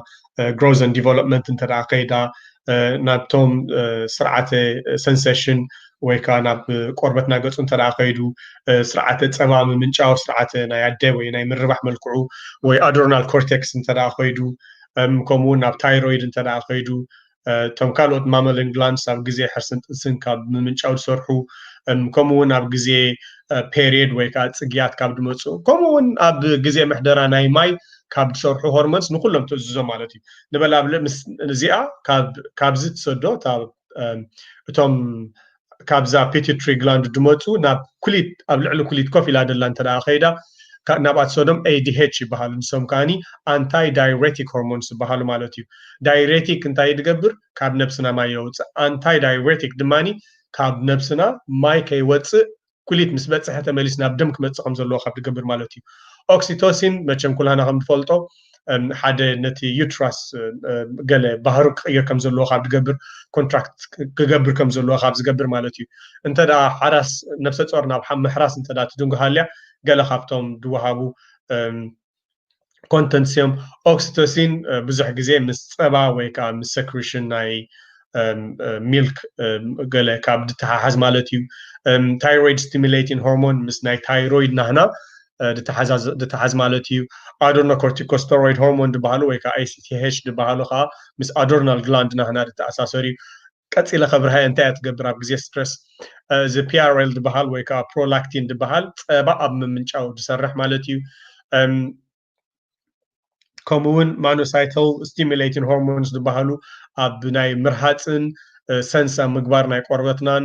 ግሮዝ ን ዲቨሎፕመንት እንተ ከይዳ ናብቶም ስርዓተ ሰንሰሽን ወይ ከዓ ናብ ቆርበትና ገፁ እንተ ከይዱ ስርዓተ ፀባ ምምንጫው ስርዓተ ናይ ኣደ ወይ ናይ ምርባሕ መልክዑ ወይ ኣድሮናል ኮርቴክስ እንተ ከይዱ ከምኡውን ናብ ታይሮይድ እንተ ከይዱ እቶም ካልኦት ማመልን ግላንስ ኣብ ግዜ ሕርስን ጥንስን ካብ ምምንጫው ዝሰርሑ ከምኡ እውን ኣብ ግዜ ፔሪየድ ወይ ከዓ ፅግያት ካብ ድመፁ ከምኡ እውን ኣብ ግዜ ምሕደራ ናይ ማይ ካብ ዝሰርሑ ሆርሞንስ ንኩሎም ትእዝዞ ማለት እዩ ንበላብለ ምስ እዚኣ ካብዚ ትሰዶ እቶም ካብዛ ፒቲትሪ ግላንድ ድመጹ ናብ ኩሊት ኣብ ልዕሊ ኩሊት ኮፍ ኢላ ደላ እንተ ከይዳ ናብኣት ሰዶም ADH ይበሃሉ ንሶም ከኣ ኣንታይ ዳይሬቲክ ሆርሞንስ ይበሃሉ ማለት እዩ ዳይሬቲክ እንታይ ድገብር ካብ ነብስና ማይ የውጽእ ኣንታይ ዳይሬቲክ ድማ ካብ ነብስና ማይ ከይወጽእ ኩሊት ምስ በጽሐ ተመሊስ ናብ ደም ክመጽእ ከም ዘለዎ ካብ ድገብር ማለት እዩ። ኦክሲቶሲን መቸም ኩላህና ከም ንፈልጦ ሓደ ነቲ ዩትራስ ገለ ባህሩ ክቕይር ከም ዘለዎ ካብ ድገብር ኮንትራክት ክገብር ከም ዘለዎ ካብ ዝገብር ማለት እዩ። እንተ ደኣ ሓራስ ነብሰ ጾር ናብ ምሕራስ እንተ ደኣ ትድንጉ ሃልያ ገለ ካብቶም ድወሃቡ ኮንተንትስ እዮም ኦክሲቶሲን ብዙሕ ግዜ ምስ ፀባ ወይ ከዓ ምስ ሰክሪሽን ናይ ሚልክ ገለ ካብ ዝተሓሓዝ ማለት እዩ ታይሮይድ ስቲሙሌቲን ሆርሞን ምስ ናይ ታይሮይድ ናህና ዝተሓዝ ማለት እዩ ኣዶርኖ ኮርቲኮስተሮይድ ሆርሞን ዝበሃሉ ወይ ከዓ ኤሲቲሄች ዝበሃሉ ከዓ ምስ ኣዶርናል ግላንድ ናህና ዝተኣሳሰር እዩ ቀጺለ ከብርሃዮ እንታይ እያ ትገብር ኣብ ግዜ ስትረስ እዚ ፒኣርኤል ድበሃል ወይ ከዓ ፕሮላክቲን ድበሃል ጸባ ኣብ ምምንጫው ዝሰርሕ ማለት እዩ ከምኡ እውን ማኖሳይተል ስቲሙሌቲን ሆርሞንስ ዝበሃሉ ኣብ ናይ ምርሃፅን ሰንሳ ምግባር ናይ ቆርበትናን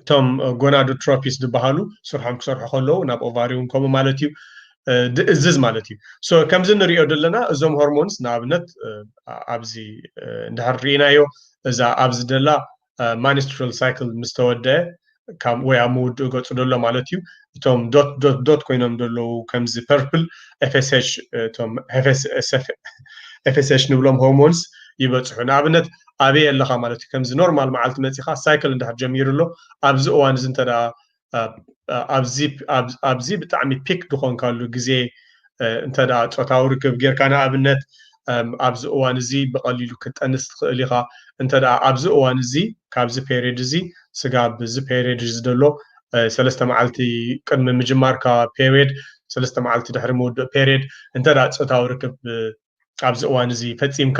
እቶም ጎናዶትሮፒስ ዝበሃሉ ስርሖም ክሰርሑ ከለዉ ናብ ኦቫሪ እውን ከምኡ ማለት እዩ ድእዝዝ ማለት እዩ ከምዚ ንሪኦ ዘለና እዞም ሆርሞንስ ንኣብነት ኣብዚ እንድሕር ርኢናዮ እዛ ኣብዚ ደላ ማኒስትራል ሳይክል ምስ ተወደአ ካብ ወይ ኣብ ምውድኡ ገፁ ደሎ ማለት እዩ እቶም ዶት ዶት ዶት ኮይኖም ደለዉ ከምዚ ፐርፕል ኤፍስሽ እቶም ኤፍስሽ ንብሎም ሆርሞንስ ይበፅሑ ንኣብነት ኣበይ ኣለኻ ማለት እዩ ከምዚ ኖርማል መዓልቲ መጺኻ ሳይክል እንድሕር ጀሚሩ ኣሎ ኣብዚ እዋን እዚ እንተ ኣብዚ ኣብዚ ብጣዕሚ ፒክ ድኾንካሉ ግዜ እንተ ጾታዊ ርክብ ጌርካ ንኣብነት ኣብዚ እዋን እዚ ብቐሊሉ ክትጠንስ ትኽእል ኢኻ እንተ ኣብዚ እዋን እዚ ካብዚ ፔሪድ እዚ ስጋ ኣብዚ ፔሪድ እዚ ዘሎ ሰለስተ መዓልቲ ቅድሚ ምጅማርካ ፔሪድ ሰለስተ መዓልቲ ድሕሪ ምውድእ ፔሪድ እንተ ጾታዊ ርክብ ኣብዚ እዋን እዚ ፈጺምካ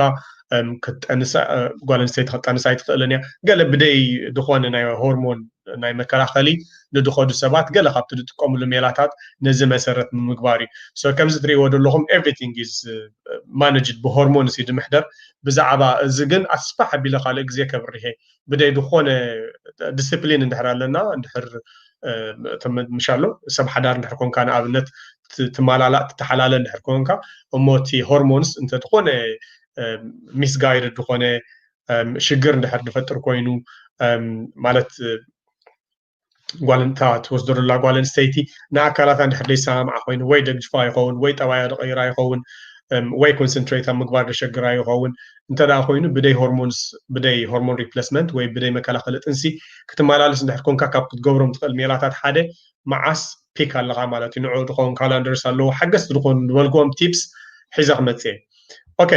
ክትጠንሳ ጓል ኣንስተይቲ ክትጠንሳ ኣይትኽእልን እያ ገለ ብደይ ዝኾነ ናይ ሆርሞን ናይ መከላኸሊ ንድኸዱ ሰባት ገለ ካብቲ ዝጥቀምሉ ሜላታት ነዚ መሰረት ንምግባር እዩ ሶ ከምዚ ትሪእዎ ዘለኹም ኤቭሪቲንግ ኢዝ ማነጅድ ብሆርሞንስ እዩ ድምሕደር ብዛዕባ እዚ ግን ኣስፋሕ ኣቢለ ካልእ ግዜ ከብርሄ ብደይ ዝኾነ ዲስፕሊን እንድሕር ኣለና እንድሕር ምሻሎ ሰብ ሓዳር እንድሕር ኮንካ ንኣብነት ትማላላእ ትተሓላለ እንድሕር ኮንካ እሞ እቲ ሆርሞንስ እንተዝኾነ ሚስ ጋይድ ዝኾነ ሽግር እንድሕር ዝፈጥር ኮይኑ ማለት ጓልንታ ትወስዶ ዘላ ጓል ኣንስተይቲ ንኣካላታ እንድሕር ዘይሰማምዓ ኮይኑ ወይ ደግጅፋ ይኸውን ወይ ጠባያ ደቐይራ ይኸውን ወይ ኮንሰንትሬት ኣብ ምግባር ደሸግራ ይኸውን እንተ ኮይኑ ብደይ ሆርሞንስ ብደይ ሆርሞን ሪፕለስመንት ወይ ብደይ መከላኸሊ ጥንሲ ክትመላለስ እንድሕር ኮንካ ካብ ክትገብሮም ትኽእል ሜላታት ሓደ መዓስ ፒክ ኣለኻ ማለት እዩ ንዑ ድኸውን ካላንደርስ ኣለዎ ሓገዝቲ ዝኾኑ ዝበልክዎም ቲፕስ ሒዘ ክመፅእ እየ ኦኬ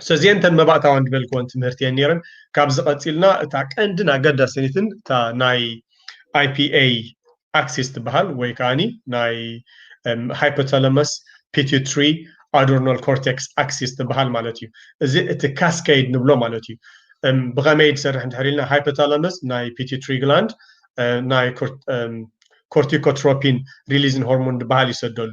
ሰዚኤን ተን መባእታውያን ዝበልክወን ትምህርቲ እየን ነይረን ካብዚ ቀፂልና እታ ቀንድን ኣገዳሲትን እታ ናይ ኣይፒኤ ኣክሲስ ትበሃል ወይ ከዓኒ ናይ ሃይፖተለመስ ፒቲትሪ ኣዶርናል ኮርቴክስ ኣክሲስ ትበሃል ማለት እዩ እዚ እቲ ካስኬድ ንብሎ ማለት እዩ ብኸመይ ዝሰርሕ እንድሕር ኢልና ሃይፖተለመስ ናይ ፒቲትሪ ግላንድ ናይ ኮርቲኮትሮፒን ሪሊዝን ሆርሞን ዝበሃል ይሰደሉ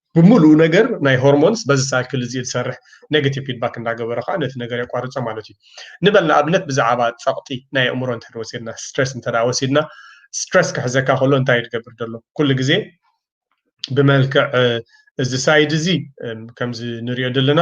ብምሉኡ ነገር ናይ ሆርሞንስ በዚ ሳይክል እዚ ዝሰርሕ ኔጌቲቭ ፊድባክ እንዳገበረ ከኣ ነቲ ነገር የቋርጾ ማለት እዩ። ንበል ንኣብነት ብዛዕባ ጸቕጢ ናይ ኣእምሮ እንተ ወሲድና ስትረስ እንተ ወሲድና ስትረስ ክሕዘካ ከሎ እንታይ እዩ ዝገብር ዘሎ ኩሉ ግዜ ብመልክዕ እዚ ሳይድ እዚ ከምዚ ንሪኦ ዘለና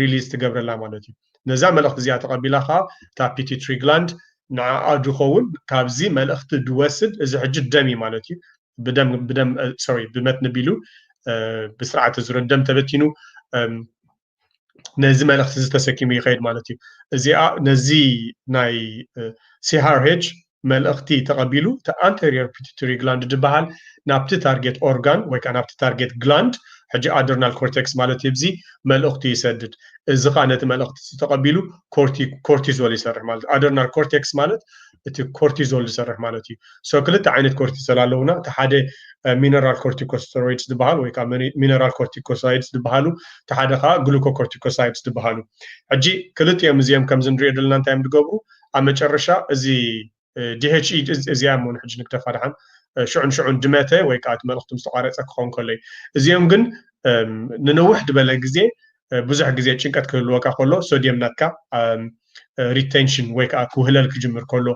ሪሊዝ ትገብረላ ማለት እዩ። ነዛ መልእኽቲ እዚኣ ተቐቢላ ከኣ እታ ፒቲትሪ ግላንድ ንዓኣ ድኸውን ካብዚ መልእኽቲ ድወስድ እዚ ሕጂ ደም እዩ ማለት እዩ ብደም ብደም ሶሪ ብመትኒ ቢሉ ብስርዓተ ዙረት ደም ተበቲኑ ነዚ መልእኽቲ እዚ ተሰኪሙ ይኸይድ ማለት እዩ። እዚኣ ነዚ ናይ ሲሃርሄጅ መልእኽቲ ተቐቢሉ እቲ ኣንተርዮር ፒቱትሪ ግላንድ ድበሃል ናብቲ ታርጌት ኦርጋን ወይ ከኣ ናብቲ ታርጌት ግላንድ ሕጂ ኣድርናል ኮርቴክስ ማለት እዩ ብዚ መልእኽቱ ይሰድድ እዚ ከኣ ነቲ መልእኽቲ እዚ ተቐቢሉ ኮርቲ ኮርቲዞል ይሰርሕ ማለት ኣድርናል ኮርቴክስ ማለት እቲ ኮርቲዞል ዝሰርሕ ማለት እዩ ሶ ክልተ ዓይነት ኮርቲሶል ኣለውና እቲ ሓደ ሚነራል ኮርቲኮስተሮይድስ ዝበሃል ወይ ከዓ ሚነራል ኮርቲኮሳይድስ ዝበሃሉ እቲ ሓደ ከዓ ግሉኮኮርቲኮሳይድስ ዝበሃሉ ሕጂ ክልቲኦም እዚኦም ከምዚ ንሪኦ ዘለና እንታይ እዮም ዝገብሩ ኣብ መጨረሻ እዚ DHE እዚኣ እሞ ንሕጂ ንግደፋ ደሓን ሽዑ ንሽዑ እንድመተ ወይ ከዓ እቲ መልእኽቲ ምስ ተቋረፀ ክኸውን ከሎ እዩ እዚኦም ግን ንንውሕ ድበለ ግዜ ብዙሕ ግዜ ጭንቀት ክህልወካ ከሎ ሶድየም ናትካ ሪቴንሽን ወይ ከዓ ክውህለል ክጅምር ከሎ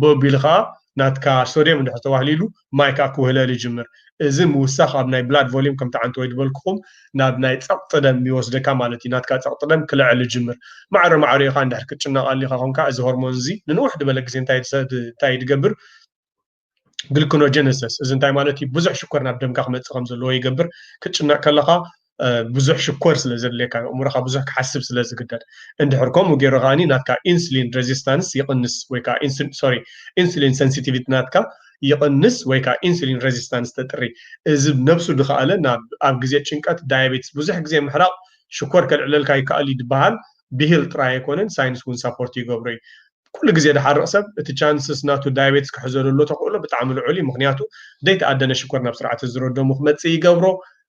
ብቢሉ ከዓ ናትካ ሶድየም እንድሕር ተዋህሊሉ ማይ ከዓ ክውህለል ይጅምር እዚ ምውሳኽ ኣብ ናይ ብላድ ቮሊም ከም ትዓንት ወይ ድበልኩኹም ናብ ናይ ጸቕጢ ደም ይወስደካ ማለት እዩ ናትካ ጸቕጢ ደም ክልዕል ይጅምር ማዕረ ማዕሪኡ ከኣ እንድሕር ክትጭነቕ ኣሊኻ ኮንካ እዚ ሆርሞን እዚ ንንውሕ ድበለ ግዜ እንታይ እንታይ ድገብር ግልክኖጀነሰስ እዚ እንታይ ማለት እዩ ብዙሕ ሽኮር ናብ ደምካ ክመጽእ ከም ዘለዎ ይገብር ክትጭነቕ ከለኻ ብዙሕ ሽኮር ስለ ዘድልየካ ኣእምሮኻ ብዙሕ ክሓስብ ስለ ዝግደድ እንድሕር ከምኡ ገይሩ ከዓኒ ናትካ ኢንሱሊን ሬዚስታንስ ይቕንስ ወይ ከዓ ሶሪ ኢንሱሊን ሰንሲቲቪቲ ናትካ ይቕንስ ወይ ከዓ ኢንሱሊን ሬዚስታንስ ተጥሪ እዚ ነብሱ ድኸኣለ ናብ ኣብ ግዜ ጭንቀት ዳያቤትስ ብዙሕ ግዜ ምሕራቕ ሽኮር ከልዕለልካ ይከኣል እዩ ድበሃል ብሂል ጥራይ ኣይኮነን ሳይንስ እውን ሳፖርት ይገብሮ እዩ ኩሉ ግዜ ድሓርቕ ሰብ እቲ ቻንስስ ናቱ ዳያቤትስ ክሕዞ ዘሎ ተኽእሎ ብጣዕሚ ልዑል እዩ ምክንያቱ ዘይተኣደነ ሽኮር ናብ ስርዓተ ዝሮ ደሙ ክመፅእ ይገብሮ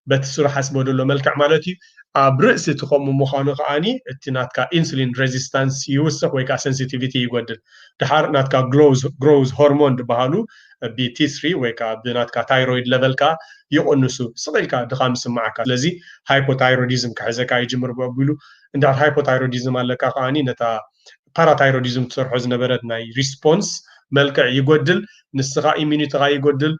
በቲ ስሩ ሓስቦ ደሎ መልክዕ ማለት እዩ ኣብ ርእሲ እቲ ከምኡ ምዃኑ ከኣ እቲ ናትካ ኢንሱሊን ረዚስታንስ ይውስኽ ወይ ከኣ ሰንሲቲቪቲ ይጎድል ደሓር ናትካ ግሮውዝ ሆርሞን ድበሃሉ ብ ቲስሪ ወይ ከኣ ብናትካ ታይሮይድ ለቨል ከኣ ይቕንሱ ስቕ ኢልካ ድኻም ይስመዓካ ስለዚ ሃይፖታይሮዲዝም ክሕዘካ ይጅምር ብኣቢሉ እንድሕር ሃይፖታይሮዲዝም ኣለካ ከኣ ነታ ፓራታይሮዲዝም ትሰርሖ ዝነበረት ናይ ሪስፖንስ መልክዕ ይጎድል ንስኻ ኢሚኒትኻ ይጎድል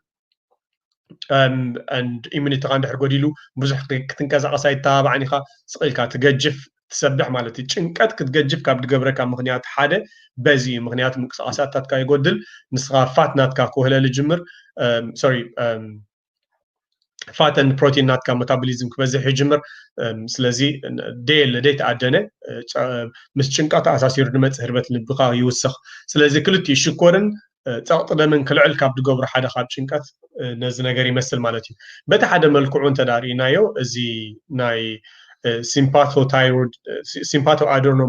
ኢሚኒቲኻ እንድሕር ጎዲሉ ብዙሕ ክትንቀሳቐስ ኣይተባባዕን ኢኻ ስቕ ኢልካ ትገጅፍ ትሰብሕ ማለት እዩ ጭንቀት ክትገጅፍ ካብ ድገብረካ ምክንያት ሓደ በዚ እዩ ምክንያቱ ምንቅስቃሳትካ ይጎድል ንስኻ ፋት ናትካ ክውህለል ይጅምር ሶሪ ፋተን ፕሮቲን ናትካ መታቦሊዝም ክበዝሕ ይጅምር ስለዚ ደየለ ደይ ተኣደነ ምስ ጭንቀት ኣሳሲሩ ድመፅእ ህርበት ልብኻ ይውስኽ ስለዚ ክልቲኡ ሽኮርን ጸቕጢ ደምን ክልዕል ካብ ዝገብሩ ሓደ ካብ ጭንቀት ነዚ ነገር ይመስል ማለት እዩ። በቲ ሓደ መልክዑ እንተ ርእናዮ እዚ ናይ ሲምፓቶ ታይሮይድ ሲምፓቶ ኣዶርኖ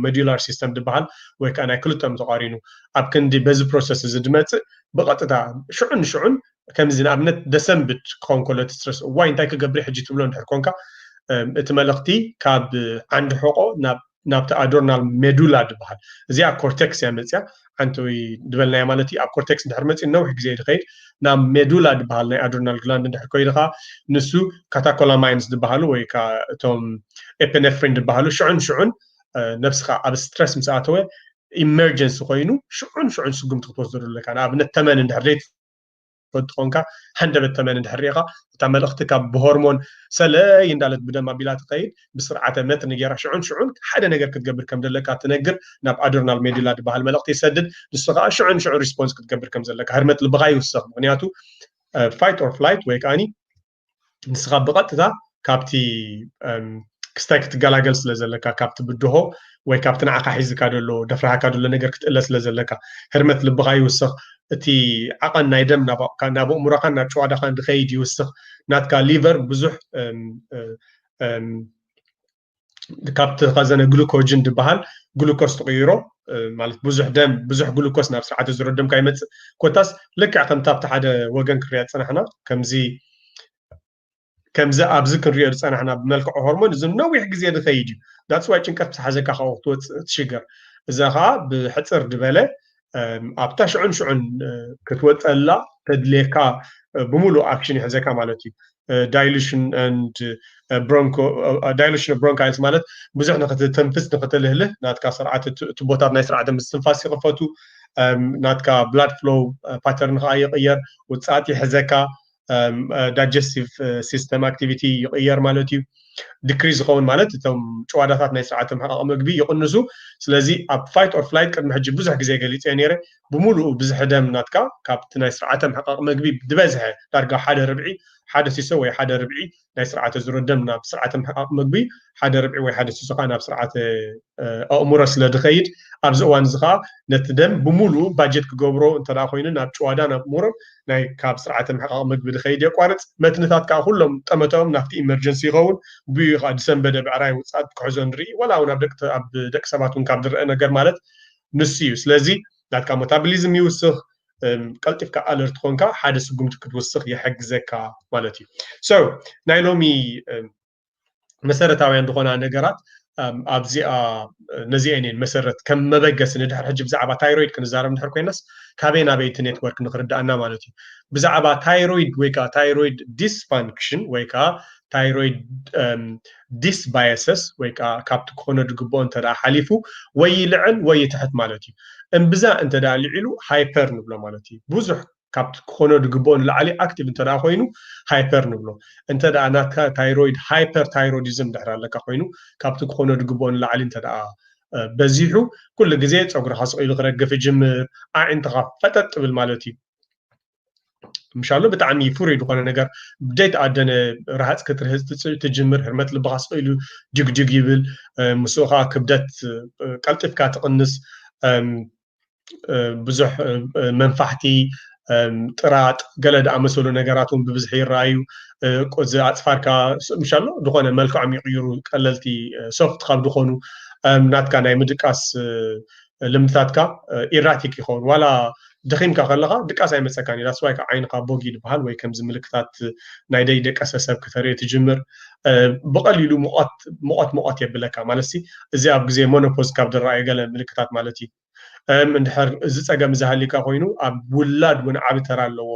ሞዲላር ሲስተም ዝበሃል ወይ ከዓ ናይ ክልቶም ተቋሪኑ ኣብ ክንዲ በዚ ፕሮሰስ እዚ ድመፅእ ብቐጥታ ሽዑ ንሽዑን ከምዚ ንኣብነት ደሰንብድ ክኸውን ከሎ እቲ ስትረስ እዋይ እንታይ ክገብሪ ሕጂ ትብሎ እንድሕር ኮንካ እቲ መልእኽቲ ካብ ዓንዲ ሕቆ ናብ ናብቲ ኣዶርናል ሜዱላ ድበሃል እዚኣ ኮርቴክስ እያ መፅያ ዓንተዊ ድበልናያ ማለት እዩ ኣብ ኮርቴክስ ድሕር መፅዩ ነዊሕ ግዜ እዩ ድኸይድ ናብ ሜዱላ ድበሃል ናይ ኣዶርናል ግላንድ ድሕር ኮይዱ ከዓ ንሱ ካታኮላማይንስ ድበሃሉ ወይ ከዓ እቶም ኤፔኔፍሪን ድበሃሉ ሽዑን ሽዑን ነብስኻ ኣብ ስትረስ ምስ ኣተወ ኢመርጀንሲ ኮይኑ ሽዑን ሽዑን ስጉምቲ ክትወስደሉ ኣለካ ንኣብነት ተመን እንድሕር ፈቱ ኮንካ ሃንደበት ተመን እንድሕር ሪኢኻ እታ መልእኽቲ ካብ ብሆርሞን ሰለይ እንዳለት ብደም ኣቢላ ትኸይድ ብስርዓተ መትኒ ጌራ ሽዑን ሽዑን ሓደ ነገር ክትገብር ከም ዘለካ ትነግር ናብ ኣድርናል ሜዱላ ድበሃል መልእኽቲ ይሰድድ ንሱ ከኣ ሽዑ ንሽዑ ሪስፖንስ ክትገብር ከም ዘለካ ህርመት ልብኻ ይውስኽ ምክንያቱ ፋይት ኦር ፍላይት ወይ ከኣኒ ንስኻ ብቐጥታ ካብቲ ክስታይ ክትገላገል ስለ ዘለካ ካብቲ ብድሆ ወይ ካብቲ ንዓኻ ሒዝካ ደሎ ደፍራሃካ ደሎ ነገር ክትእለ ስለ ዘለካ ህርመት ልብኻ ይውስኽ እቲ ዓቐን ናይ ደም ናብ ኣእምሮኻን ናብ ጨዋዳኻን ዝኸይድ ይውስኽ ናትካ ሊቨር ብዙሕ ካብቲ ከዘነ ግሉኮጅን ዝበሃል ግሉኮስ ትቕይሮ ማለት ብዙሕ ደም ብዙሕ ግሉኮስ ናብ ስርዓተ ዝሮ ደምካ ይመፅእ ኮታስ ልክዕ ከምቲ ኣብቲ ሓደ ወገን ክንሪኦ ዝፀናሕና ከምዚ ከምዚ ኣብዚ ክንሪኦ ዝፀናሕና ብመልክዑ ሆርሞን እዚ ነዊሕ ግዜ ዝኸይድ እዩ ዳፅዋይ ጭንቀት ምስ ሓዘካ ካብኡ ክትወፅእ ትሽገር እዛ ከዓ ብሕፅር ዝበለ ኣብታ ሽዑን ሽዑን ክትወፀላ ተድልየካ ብምሉእ ኣክሽን ይሕዘካ ማለት እዩ ዳይሉሽን ንድ ብሮንኮ ዳይሉሽን ብሮንካይልስ ማለት ብዙሕ ንክትተንፍስ ንክትልህልህ ናትካ ስርዓት ቱቦታት ናይ ስርዓተ ምስትንፋስ ይኽፈቱ ናትካ ብላድ ፍሎው ፓተርን ከዓ ይቕየር ውፅኣት ይሕዘካ ዳጀስቲቭ ሲስተም ኣክቲቪቲ ይቕየር ማለት እዩ ድክሪ ዝኸውን ማለት እቶም ጭዋዳታት ናይ ስርዓተ ምሕቃቕ ምግቢ ይቕንሱ ስለዚ ኣብ ፋይት ኦር ፍላይት ቅድሚ ሕጂ ብዙሕ ግዜ ገሊፀ ነይረ ብምሉኡ ብዝሒ ደም ናትካ ካብቲ ናይ ስርዓተ ምሕቃቕ ምግቢ ዝበዝሐ ዳርጋ ሓደ ርብዒ ሓደ ሲሶ ወይ ሓደ ርብዒ ናይ ስርዓተ ዝሮ ደም ናብ ስርዓተ ምሕቃቕ መግቢ ሓደ ርብዒ ወይ ሓደ ሲሶ ከዓ ናብ ስርዓተ ኣእምሮ ስለ ዝኸይድ ኣብዚ እዋን እዚ ከዓ ነቲ ደም ብምሉኡ ባጀት ክገብሮ እንተ ኮይኑ ናብ ጭዋዳ ናብ ሙር ናይ ካብ ስርዓተ ምሕቃቕ መግቢ ዝኸይድ የቋርፅ መትንታት ከዓ ኩሎም ጠመተኦም ናብቲ ኢመርጀንሲ ይኸውን ብኡ ከዓ ዝሰንበደ ብዕራይ ውፅኣት ክሕዞ ንርኢ ወላ እውን ኣብ ደቂ ሰባት እውን ካብ ዝረአ ነገር ማለት ንሱ እዩ ስለዚ ናትካ ሞታብሊዝም ይውስኽ ቀልጢፍካ ኣለርት ኮንካ ሓደ ስጉምቲ ክትውስኽ ይሕግዘካ ማለት እዩ ሶ ናይ ሎሚ መሰረታውያን ዝኾና ነገራት ኣብዚኣ ነዚአን እየን መሰረት ከም መበገሲ ንድሕር ሕጂ ብዛዕባ ታይሮይድ ክንዛረብ እንድሕር ኮይናስ ካበይ ናበይ እቲ ኔትወርክ ንክርዳእና ማለት እዩ ብዛዕባ ታይሮይድ ወይ ከዓ ታይሮይድ ዲስፋንክሽን ወይ ከዓ ታይሮይድ ዲስ ባየሰስ ወይ ከኣ ካብቲ ክኾኖ ድግብኦ እንተ ሓሊፉ ወይ ይልዕል ወይ ይትሕት ማለት እዩ። እምብዛ እንተ ልዒሉ ሃይፐር ንብሎ ማለት እዩ። ብዙሕ ካብቲ ክኾኖ ድግብኦ ንላዕሊ ኣክቲቭ እንተ ኮይኑ ሃይፐር ንብሎ። እንተ ናትካ ታይሮይድ ሃይፐርታይሮዲዝም ድሕሪ ኣለካ ኮይኑ ካብቲ ክኾኖ ድግብኦ ንላዕሊ እንተ በዚሑ ኩሉ ግዜ ጸጉርኻ ስቕ ኢሉ ክረግፍ ይጅምር፣ ኣዒንትኻ ፈጠጥ ይብል ማለት እዩ። ምሻሎ ብጣዕሚ ፍሩይ ዝኾነ ነገር ብደይ ተኣደነ ረሃፅ ክትርህፅ ትጅምር ህርመት ልብኻ ስኢሉ ጅግጅግ ይብል ምስኡ ከዓ ክብደት ቀልጢፍካ ትቕንስ ብዙሕ መንፋሕቲ ጥራጥ ገለ ዝኣመሰሉ ነገራት እውን ብብዝሒ ይረኣዩ እዚ ኣፅፋርካ ምሻሎ ዝኾነ መልክዖም ይቕይሩ ቀለልቲ ሶፍት ካብ ዝኾኑ ናትካ ናይ ምድቃስ ልምድታትካ ኢራቲክ ይኸውን ዋላ ደኺምካ ከለኻ ድቃስ ኣይመፀካን እዩ ዳስዋይ ከዓ ዓይንኻ ቦግ እዩ ዝበሃል ወይ ከምዚ ምልክታት ናይ ደይ ደቀሰ ሰብ ክተርኢ ትጅምር ብቐሊሉ ሙቐት ሙቐት ሙቐት የብለካ ማለት ሲ እዚ ኣብ ግዜ ሞኖፖዝ ካብ ዝረኣዩ ገለ ምልክታት ማለት እዩ እንድሕር እዚ ፀገም እዚ ሃሊካ ኮይኑ ኣብ ውላድ እውን ዓቢ ተራ ኣለዎ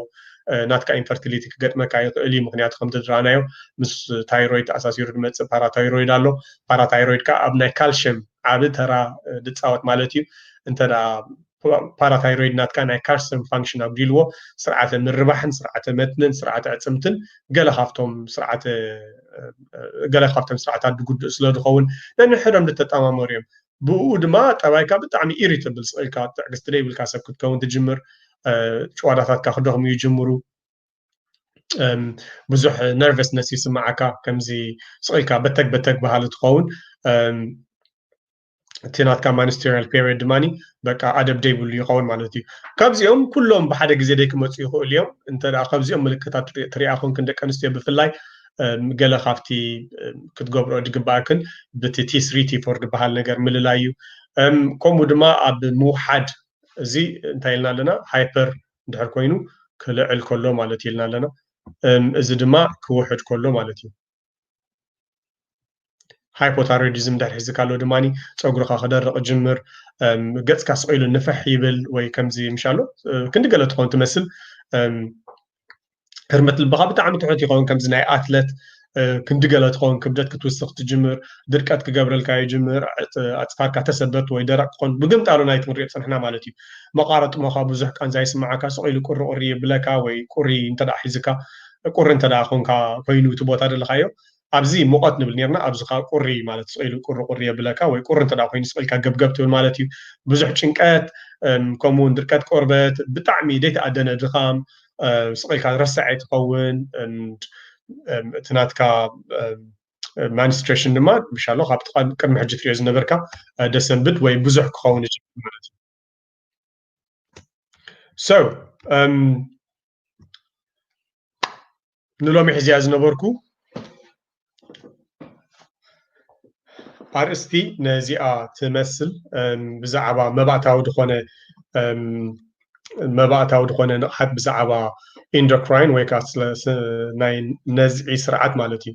ናትካ ኢንፈርቲሊቲ ክገጥመካ ይኽእል እዩ ምክንያቱ ከምቲ ዝረኣናዮ ምስ ታይሮይድ ተኣሳሲሩ ዝመፅእ ፓራታይሮይድ ኣሎ ፓራታይሮይድ ከዓ ኣብ ናይ ካልሽየም ዓቢ ተራ ድጻወት ማለት እዩ እንተ ፓራታይሮይድ ናትካ ናይ ካርሰን ፋንክሽን ኣጉዲልዎ ስርዓተ ምርባሕን ስርዓተ መትንን ስርዓተ ዕፅምትን ገለ ካብቶም ስርዓተ ገለ ካብቶም ስርዓታት ድጉድእ ስለ ዝኸውን ነንሕዶም ዝተጠማመሩ እዮም ብኡ ድማ ጠባይካ ብጣዕሚ ኢሪተብል ስቕኢልካ ትዕግስቲ ደይብልካ ሰብ ክትከውን ትጅምር ጭዋዳታትካ ክደኽሙ ይጅምሩ ብዙሕ ነርቨስነስ ይስምዓካ ከምዚ ስቕኢልካ በተግ በተግ በሃሊ ትኸውን እቲ ናትካ ማኒስቴሪያል ፔሪድ ድማ በቃ ኣደብ ደይብሉ ይኸውን ማለት እዩ ካብዚኦም ኩሎም ብሓደ ግዜ ደይ ክመፁ ይኽእሉ እዮም እንተ ካብዚኦም ምልክታት ትሪኣ ኮንክን ደቂ ኣንስትዮ ብፍላይ ገለ ካብቲ ክትገብሮ ዝግባእክን ብቲ ቲስሪ ቲፎር ዝበሃል ነገር ምልላይ እዩ ከምኡ ድማ ኣብ ምውሓድ እዚ እንታይ ኢልና ኣለና ሃይፐር እንድሕር ኮይኑ ክልዕል ከሎ ማለት እዩ ኢልና ኣለና። እዚ ድማ ክውሕድ ከሎ ማለት እዩ። ሃይፖታይሮይዲዝም እንድሕር ሒዝካ ኣሎ ድማ ፀጉርካ ክደርቕ ጅምር፣ ገፅካ ስቕ ኢሉ ንፍሕ ይብል ወይ ከምዚ ምሻሎ ክንዲ ገለ ትኸውን ትመስል ህርመት ልብኻ ብጣዕሚ ትሑት ይኸውን ከምዚ ናይ ኣትለት ክንዲ ገለ ትኸውን ክብደት ክትውስኽ ትጅምር ድርቀት ክገብረልካ ይጅምር ኣፅፋርካ ተሰበርት ወይ ደረቅ ክኾን ብግምጣሉ ናይቲ ክንሪኦ ፀንሕና ማለት እዩ መቃረ ጥሞኻ ብዙሕ ቃንዛ ይስምዓካ ስቕ ኢሉ ቁሪ ቁሪ የብለካ ወይ ቁሪ እንተ ሒዝካ ቁሪ እንተ ኮንካ ኮይኑ እቲ ቦታ ደለኻዮ ኣብዚ ሙቐት ንብል ኔርና ኣብዚ ከኣ ቁሪ ማለት እዩ ስቕ ኢሉ ቁሪ ቁሪ የብለካ ወይ ቁሪ እንተ ኮይኑ ስቕ ኢልካ ገብገብ ትብል ማለት እዩ ብዙሕ ጭንቀት ከምኡ ውን ድርቀት ቆርበት ብጣዕሚ ዘይተኣደነ ድኻም ስቕ ኢልካ ረሳዔ ትኸውን እቲ ናትካ ማንስትሬሽን ድማ ምሻሎ ካብቲ ቅድሚ ሕጂ ትሪኦ ዝነበርካ ደሰንብድ ወይ ብዙሕ ክኸውን ይጅምር ማለት እዩ ሰው ንሎሚ ሕዝያ ዝነበርኩ ኣርእስቲ ነዚኣ ትመስል ብዛዕባ መባእታዊ ዝኾነ መባእታዊ ዝኾነ ንቕሓት ብዛዕባ ኢንዶክራይን ወይ ከዓ ናይ ነዝዒ ስርዓት ማለት እዩ